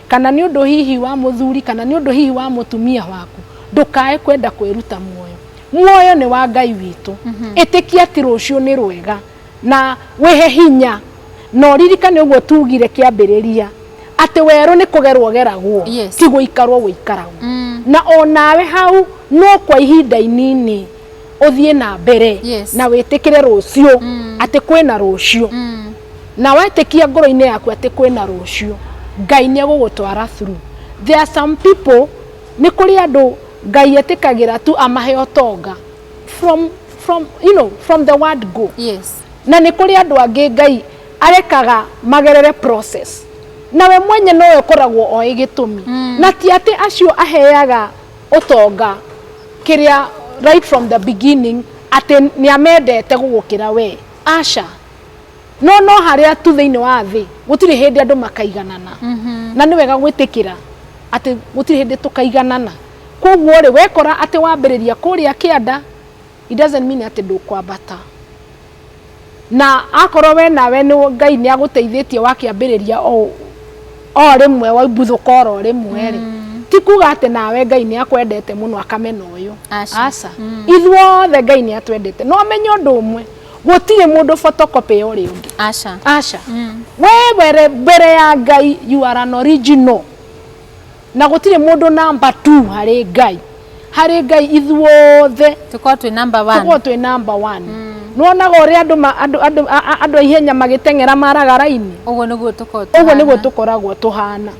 kana nĩ ũndũ hihi wa mũthuri, kana nĩ ũndũ hihi wa mũtumia waku, ndũkae kwenda kwĩruta muoyo. Muoyo nĩ wa Ngai witũ. Ĩtĩkia atĩ rũciũ nĩ rwega na wĩhe hinya. Na ũririkane ũguo tuugire kĩambĩrĩria, atĩ werũ nĩ kũgerwo ũgeragwo, Yes. ti gũikarwo gũikaragwo. Na o nawe hau no kwa ihinda inini ũthiĩ na mbere Yes. na wĩtĩkĩre rũciũ, atĩ kwĩna rũciũ. na wetĩkia ngoro-inĩ yaku atĩ kwĩna rũciũ ngai nĩ egũgũtwara through there are some people nĩ kũrĩ andũ ngai etĩkagĩra tu amahe ũtonga from, from, you know, from the word go yes na nĩ kũrĩ andũ angĩ ngai arekaga magerere process na we mwenye nowe ũkoragwo oĩ gĩtũmi mm. na ti atĩ acio aheaga ũtonga kĩrĩa right from the beginning atĩ nĩ amendete gũgũkĩra we aca no no harĩa tu thĩinĩ wa thĩ gũtirĩ hĩndĩ andũ makaiganana mhm. na nĩ wega gwĩtĩkĩra atĩ gũtirĩ hĩndĩ tũkaiganana koguo rĩ wekora atĩ wambĩrĩria kũrĩa kĩanda it doesn't mean atĩ ndũkwambata na akorwo we nawe nĩ ngai nĩ agũteithĩtie wakĩambĩrĩria o o rĩmwe waimbuthũka oro rĩmwe rĩ mm. ti kuga atĩ nawe ngai nĩ akwendete mũno akamena ũyũ aca mm. ithuothe ngai nĩ atwendete no menye ũndũ ũmwe gũtirĩ mũndũ photocopy ya ũrĩa ũngĩ aca aca mm. we were mbere ya ngai you are an original na gũtirĩ mũndũ namba tu harĩ ngai harĩ ngai ithuothe tũkorwo twĩ namba tũkorwo twĩ namba one mm. nwonaga ũrĩa andũ andũ andũ andũ ihenya magĩteng'era maraga raini ũguo nĩguo tũkoragwo ũguo nĩguo tũkoragwo tũhana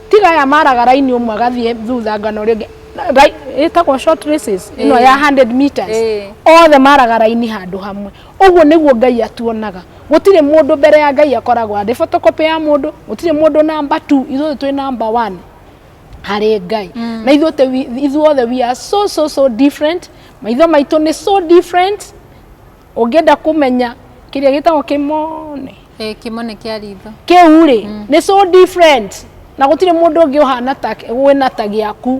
tiga aya maraga raini ũmwe agathiĩ thutha ngana ũrĩa ũngĩ Ri- ĩtagwo short races ĩno ya 100 meters Ĩĩ. othe maraga raini handũ hamwe ũguo nĩguo ngai atuonaga gũtirĩ mũndũ mbere ya ngai akoragwo arĩ photocopy ya mũndũ gũtirĩ mũndũ namba 2 ithuothe twĩ namba 1 harĩ ngai na ithuothe wi- ithuothe we are so so so different maitho maitũ nĩ so different ũngĩenda kũmenya kĩrĩa gĩtagwo kĩmone Eh, kĩmone kĩa ritho kĩu rĩ mm. nĩ so different na gũtirĩ mũndũ ũngĩ ũhana ta wĩna ta gĩaku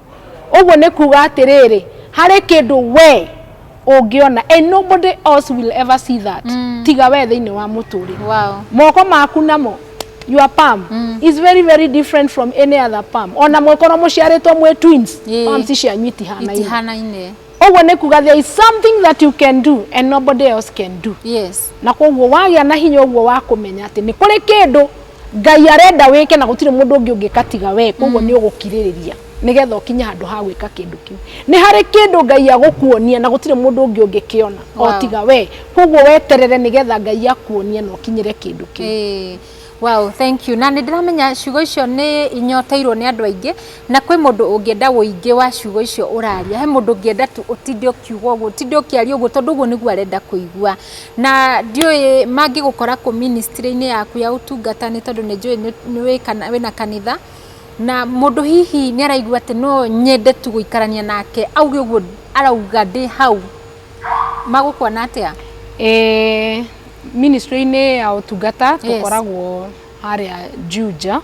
ũguo nĩ kuga atĩrĩrĩ harĩ kĩndũ we ũngĩona and nobody else will ever see that mm. tiga we thĩinĩ wa mũtũrĩre wow. moko maku namo your palm mm. is very very different from any other palm ona mwĩkorwo mũciarĩtwo mwĩ twins yeah. palms cianyu itihanaine itihanaine Ũguo nĩ kuga there is something that you can do and nobody else can do. Yes. Na koguo wagĩa na hinya ũguo wa kũmenya atĩ nĩ kũrĩ kĩndũ Ngai arenda wĩke na gũtirĩ mũndũ ũngĩ ũngĩka tiga we koguo mm. nĩ ũgũkirĩrĩria nigetha ukinye handu ha gwika kindu kiu ni hari kindu ngai agukuonia na gutire mundu ungi ungi kiona wow. otiga we koguo weterere nigetha ngai akuonia na ukinyire kindu kiu Wow, thank you. Na nĩ ndĩramenya ciugo icio nĩ inyoteirwo nĩ andũ aingĩ, na kwĩ mũndũ ũngĩenda ũingĩ wa ciugo icio ũraria. He mũndũ ũngĩenda tu ũtinde ũkiuga ũguo, ũtinde ũkĩaria ũguo tondũ ũguo nĩguo arenda kũigua. Na ndiũĩ mangĩgũkora kũ ministry-inĩ yaku ya ũtungata nĩ tondũ nĩ njũĩ nĩ wĩ kana wĩna kanitha, na mũndũ hihi nĩ araigua atĩ no nyende tu gũikarania nake auge ũguo arauga ndĩ hau. magũkuona atĩa? Eh, ministry-inĩ ya ũtungata Yes. tũkoragwo harĩa Juja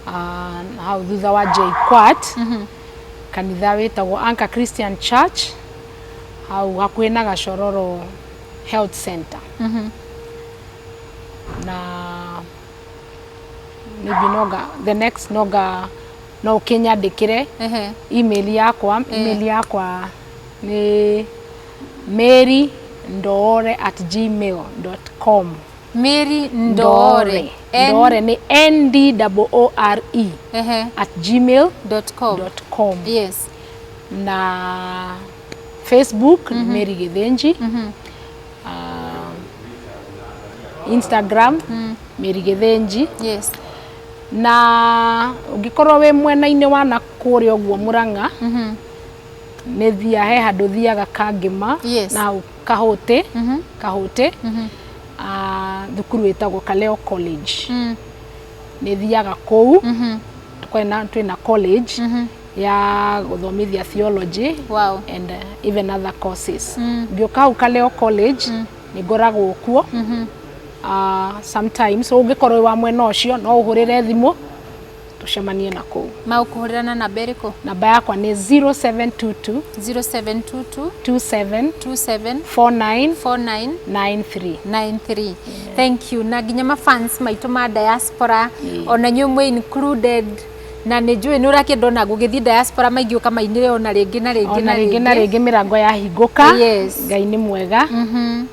ah, na hau thutha wa JKUAT kanitha wĩtagwo Anchor Christian Church hau hakuhĩ na Gacororo Health Center na maybe noga the next noga no ũkĩnyandĩkĩre Ehe. email yakwa email yakwa nĩ mĩri ndoore at gmail dot com mĩri ndoore N- ndoore nĩ n d o o r e ehe, at gmail dot com dot com yes na facebook nĩ mary githinji Ah, instagram mary githinji yes na ũngĩkorwo wĩ mwena-inĩ wa na kũrĩa ũguo mũrang'a nĩ thiaga he handũ thiaga kangĩma yes. na kahũtĩ mm -hmm. kahũtĩ mm -hmm. uh, thukuru wĩtagwo Kaleo College mm. nĩ thiaga kũu mm -hmm. twĩna twĩna college mm -hmm ya gũthomithia theology wow. and uh, even other courses mm. ngĩũka hau Kaleo College mm. nĩ ngoragwo kuo mm -hmm. uh, sometimes ũngĩkorwo wa mwena ũcio no ũhũrĩre thimũ tũcemanie na kũu magũkũhũrĩra na namba ĩrĩkũ namba yakwa nĩ 0722 0722 27 27 49 49 93 93 thank you na nginya mafans maitũ ma diaspora ona inyuĩ mwĩ included na nĩ njũĩ nĩ ũrakĩenda ona gũgĩthiĩ diaspora maingĩ ũkamainĩre ona rĩngĩ na rĩngĩ ona rĩngĩ na rĩngĩ mĩrango yahingũka Yes. ngai nĩ mwega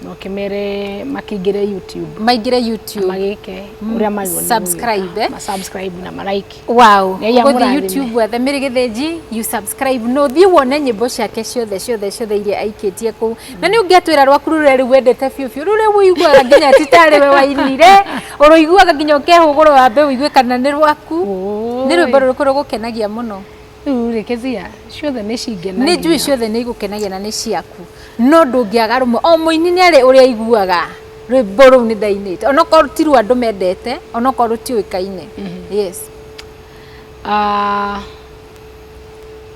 na ũkĩmere makĩingĩre youtube maingĩre youtube magĩke ũrĩa magĩrĩirwo nĩ gwĩka. Subscribe, eh? Ma subscribe na ma like. Wow, Ngai gũthiĩ amũrathime. YouTube wethe Mary Gĩthĩnji, you subscribe no thiĩ wone nyĩmbo ciake ciothe ciothe ciothe iria aikĩtie kũu na nĩ ũngĩatwĩra rwaku rũrĩa rĩu wendete biũ biũ rũrĩa ũiguaga nginya ti tarĩ we wainire ũrũiguaga nginya ũkehũgũrwo wambe ũigue kana nĩ rwaku nĩ rwĩmbo rũrĩkũ rũgũkenagia mũno rĩu rĩ kĩthia ciothe nĩ cingenagia nĩ njui ciothe nĩ igũkenagia na nĩ ciaku no ndũngĩaga rũmwe o mũini nĩ arĩ ũrĩa aiguaga rwĩmbo rũu nĩ ndainĩte onokorwo ti rwa andũ mendete onokorwo rũtiũĩkaine mhm. yes ah,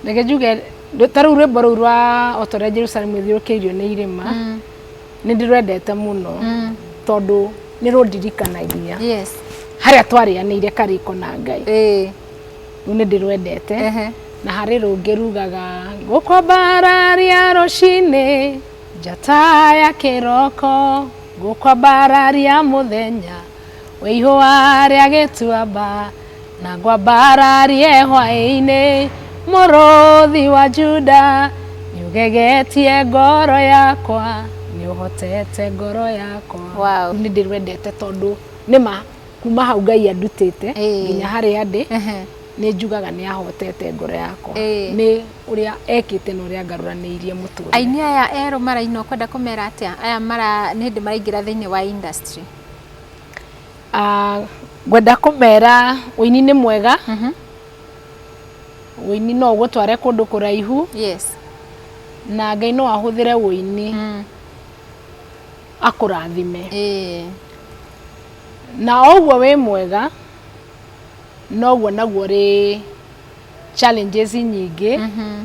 reke njuge ta rĩu rwĩmbo rũu rwa o ta ũrĩa jerusalemu ĩthiũrũkĩirio nĩ irĩma mm. nĩ ndĩrwendete mũno mm. tondũ nä rå ndirikanagia harä a twarä anä ire karä ko na ngai rũu nĩ ndĩrwendete na harĩ rũngĩ rugaga ngũkwambararia rũcinĩ njata ya kĩroko ngũkwambararia mũthenya wĩ ihũa rĩa gĩtuamba na ngwambararie hwaĩ-inĩ mũrũthi wa Juda nĩ ũgegetie ngoro yakwa nĩ ũhotete ngoro yakwa wow. nĩ ndĩrwendete tondũ nĩ ma kuma hau ngai andutĩte Ĩĩ. nginya harĩa ndĩ Ehe. nĩ njugaga nĩ ahotete ngoro yakwa Ĩĩ. nĩ ũrĩa ekĩte na ũrĩa ngaruranĩirie mũtũrĩre aini aya erũ maraina ũkwenda kũmera atĩa aya mara nĩ hĩndĩ maraingĩra thĩinĩ wa industry Ah, ngwenda kũmera ũini nĩ mwega Mhm. ũini no ũgũtware kũndũ kũraihu yes na ngai no ahũthĩre ũini Mm. akũrathime ĩĩ na o ũguo wĩ mwega noguo naguo rĩ challenges nyingĩ mhm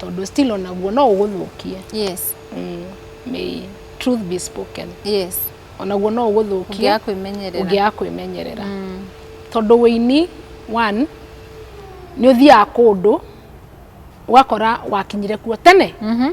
tondũ still onaguo no ũgũthũkie yes mm. may truth be spoken yes onaguo no ũgũthũkie ũngĩaga kwĩmenyerera ũngĩaga kwĩmenyerera Mm, tondũ wĩini one nĩ ũthiaga kũndũ ũgakora wakinyire kuo tene mhm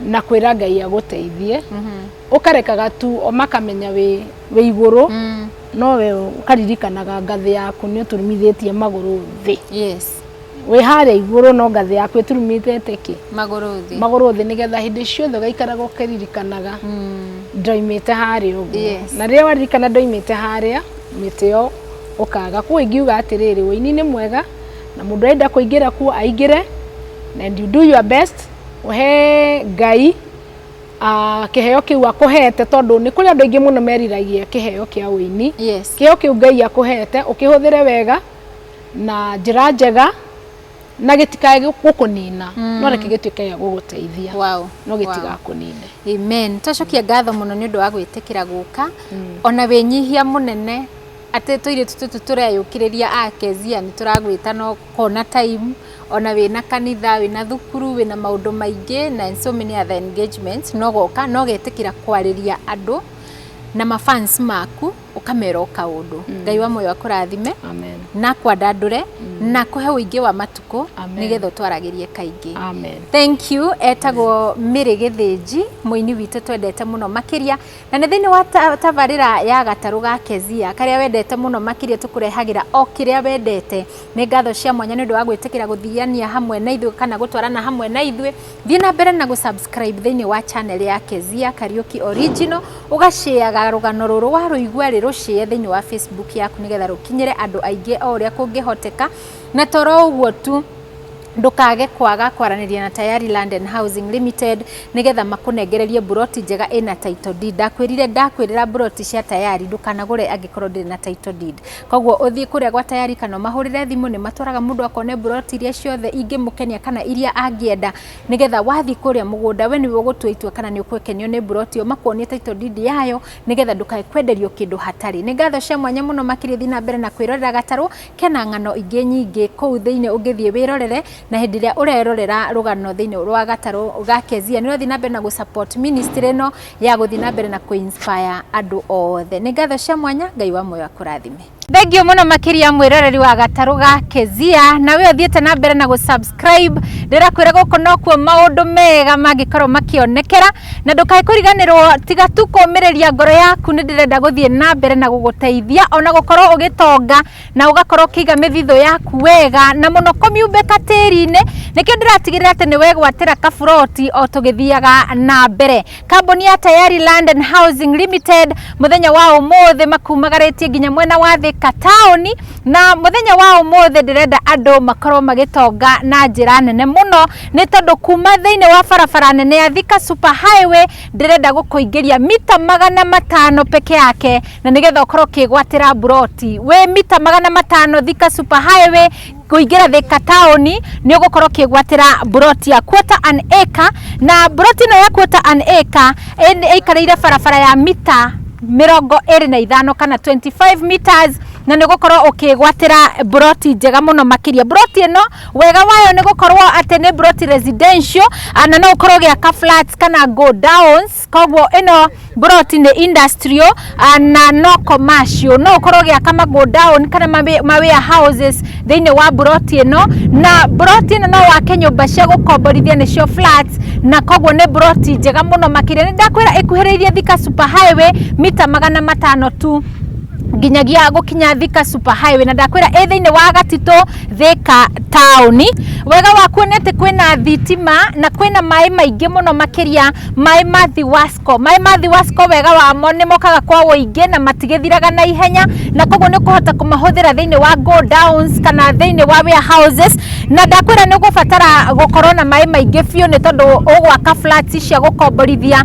na kwĩra ngai agũteithie ũkarekaga tu o makamenya wĩ wĩ igũrũ Mm. no we ũkaririkanaga ngathĩ yaku nĩ ũturumithĩtie magũrũ thĩ yes wĩ harĩa igũrũ no ngathĩ yaku ĩturumithĩte kĩ magũrũ thĩ magũrũ thĩ nĩgetha hĩndĩ ciothe ũgaikaraga ũkĩririkanaga Mm. ndoimĩte harĩa ũguo Yes. na rĩrĩa waririkana ndoimĩte harĩa mĩtĩ ĩyo ũkaga kuo ingiuga atĩrĩrĩ ũini nĩ mwega na mũndũ arenda kũingĩra kuo aingĩre and you do your best he ngai kĩheo kĩu akũhete tondũ nĩ kũrĩ andũ aingĩ mũno meriragia kĩheo kĩa ũini kĩheo kĩu ngai akũhete ũkĩhũthĩre wega na njĩra njega na gĩtikae gũkũnina mm. no reke gĩtuĩke gĩa gũgũteithia wow. no gĩtigakũnine wow. amen tũcokie ngatho mũno nĩ ũndũ wa gwĩtĩkĩra gũka mm. ona wĩnyihia mũnene atĩ tũirĩtu tũtũ tũreyũkĩrĩria akezia nĩ tũragwĩta no Hona time, ona wĩna kanitha, wĩna thukuru, wĩna maũndũ maingĩ na in so many other engagements, no goka na ũgetĩkĩra kwarĩria andũ na ma fans maku, ũkamera o kaũndũ. Ngai wa muoyo akũrathime Amen. na akwandandũre na akũhe ũingĩ wa matukũ Amen. nĩgetha ũtwaragĩrie kaingĩ. Amen. Thank you. Etagwo Mĩrĩ Gĩthĩnji, mũini witũ twendete mũno makĩria. Na nĩ thĩinĩ wa tabarĩra ya gatarũ ga Kezia karĩa wendete mũno makĩria tũkũrehagĩra o kĩrĩa wendete. Nĩ ngatho cia mwanya nĩ ũndũ wa gwĩtĩkĩra gũthiania hamwe na ithuĩ kana gũtwarana hamwe na ithuĩ. Thiĩ na mbere na gũsubscribe thĩinĩ wa channel ya Kezia Kariuki Original, ũgashĩaga rũgano rũrũ warũigua rĩ rũshĩe thĩinĩ wa Facebook yaku nĩgetha rũkinyĩre andũ aingĩ o ũrĩa kũngĩhoteka. Na toro ũguo tu. Ndũkage kwaga kwaranĩria na Tayari Land and Housing Limited nĩgetha makũnengererie mburoti njega ĩna Title Deed. Ndakwĩrire ndakwĩrĩra mburoti cia Tayari ndũkanagũre angĩkorwo ndĩrĩ na Title Deed. Koguo ũthiĩ kũrĩa gwa Tayari kana ũmahũrĩre thimũ, nĩ matwaraga mũndũ akone mburoti iria ciothe ingĩmũkenia kana iria angĩenda, nĩgetha wathiĩ kũrĩa mũgũnda we nĩwe ũgũtua itua kana nĩ ũgũkenio nĩ mburoti ĩyo, makuonie Title Deed yayo, nĩgetha ndũkae kwenderio kĩndũ hatarĩ. Nĩ ngatho cia mwanya mũno makĩria thiĩ na mbere na kwĩrorera gatarũ. Kena ng'ano ingĩ nyingĩ kũu thĩinĩ ũngĩthiĩ wĩrorere, na hĩndĩ ĩrĩa ũrerorera rũgano thĩinĩ rwa gatarũ ga Kezia, nĩ ũrathiĩ na mbere na gũ support ministry ĩno ya gũthiĩ na mbere na kũ inspire andũ othe. Nĩ ngatho cia mwanya, Ngai wa muoyo akũrathime. Thengiũ mũno makĩria mwĩroreri wa gatarũ ga Kezia, na wee ũthiĩte na mbere na gũ subscribe, ndĩrakwĩra gũkũ nokuo maũndũ mega mangĩkorwo makĩonekera. na ndũkae kũriganĩrwo tiga tu kũmĩrĩria ngoro yaku nĩ ndĩrenda gũthiĩ na mbere na gũgũteithia ona gũkorwo ũgĩtonga na ũgakorwo ũkĩiga mĩthithũ yaku wega na mũno kũmiumbĩka tĩri-inĩ nĩkĩo ndĩratigĩrĩra atĩ nĩ wegwatĩra kaburoti o tũgĩthiaga na mbere kambuni ya tayari land and housing limited mũthenya wa ũmũthĩ makumagarĩtie nginya mwena wa thĩka taũni na mũthenya wa ũmũthĩ ndĩrenda andũ makorwo magĩtonga na njĩra nene mũno nĩ tondũ kuma thĩinĩ wa barabara nene ya Thika Super Highway ndĩrenda gũkũingĩria mita magana matano peke yake na nĩgetha ũkorwo ũkĩgwatĩra mburoti wĩ mita magana matano Thika Super Highway kũingĩra Thika taũni nĩ ũgũkorwo ũkĩgwatĩra mburoti ya quarter an acre na mburoti ĩno ya quarter an acre ĩ- ĩikarĩire barabara ya mita mĩrongo ĩrĩ na ithano kana 25 meters na nĩ ũgũkorwo ũkĩgwatĩra mburoti njega mũno makĩria mburoti ĩno Wega wayo nĩ gũkorwo atĩ nĩ plot residential na no ũkorwo ũgĩaka flats kana go downs, koguo ĩno plot nĩ industrial na no commercial. No ũkorwo ũgĩaka ma go down kana ma warehouses thĩinĩ wa plot ĩno, na plot ĩno no wake nyũmba cia gũkomborithia nĩcio flats, na koguo nĩ plot njega mũno makĩria. Nĩ ndakwĩra ĩkuhĩrĩirie Thika Super Highway mita magana matano tu. nginyagia gũkinya Thika Super Highway na ndakwĩra ĩ thĩinĩ wa Gatitũ Thika taũni. Wega wakuo nĩ atĩ kwĩna thitima na kwĩna maĩ maingĩ mũno makĩria maĩ ma Thiwasco. Maĩ ma Thiwasco wega wamo nĩ mokaga kwa ũingĩ na matigĩthiraga na ihenya na koguo nĩ ũkũhota kũmahũthĩra thĩinĩ wa go downs kana thĩinĩ wa warehouses na ndakwĩra nĩ ũgũbatara gũkorwo na maĩ maingĩ biũ nĩ tondũ ũgwaka flats cia gũkomborithia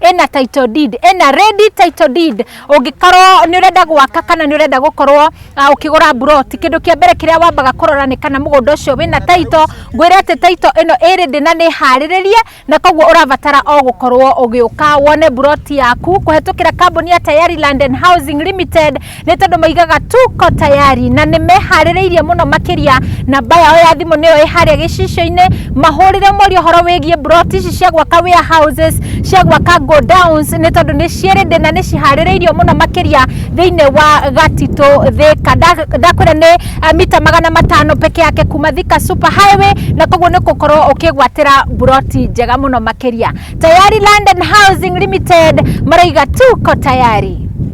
ena title deed ena ready title deed ũngĩkorwo nĩ ũrenda gwaka kana nĩ ũrenda gũkorwo ah, ũkĩgũra buroti kĩndũ kĩa mbere kĩrĩa wambaga kũrora nĩ kana mũgũnda ũcio wĩna title ngwĩre atĩ title ĩno ĩ ready na nĩ harĩrĩrie na koguo ũrabatara o gũkorwo ũgĩũka wone buroti yaku kũhetũkĩra kambuni ya Tayari Land and Housing Limited nĩ tondũ maigaga tuko tayari na nĩ meharĩrĩirie mũno makĩria namba yao ya thimũ nĩyo ĩ harĩa gĩcicio-inĩ mahũrĩre morio ũhoro wĩgiĩ mburoti ici cia gwaka warehouses cia gwaka godowns nĩ tondũ nĩ ciĩrĩndĩ na nĩ ciharĩrĩirio mũno makĩria thĩinĩ wa gatitũ thĩka Nda- ndakwĩra nĩ eh, mita magana matano peke yake kuma thika super highway na koguo nĩ gũkorwo ũkĩgwatĩra mburoti njega mũno makĩria tayari land and housing limited maraiga tuko tayari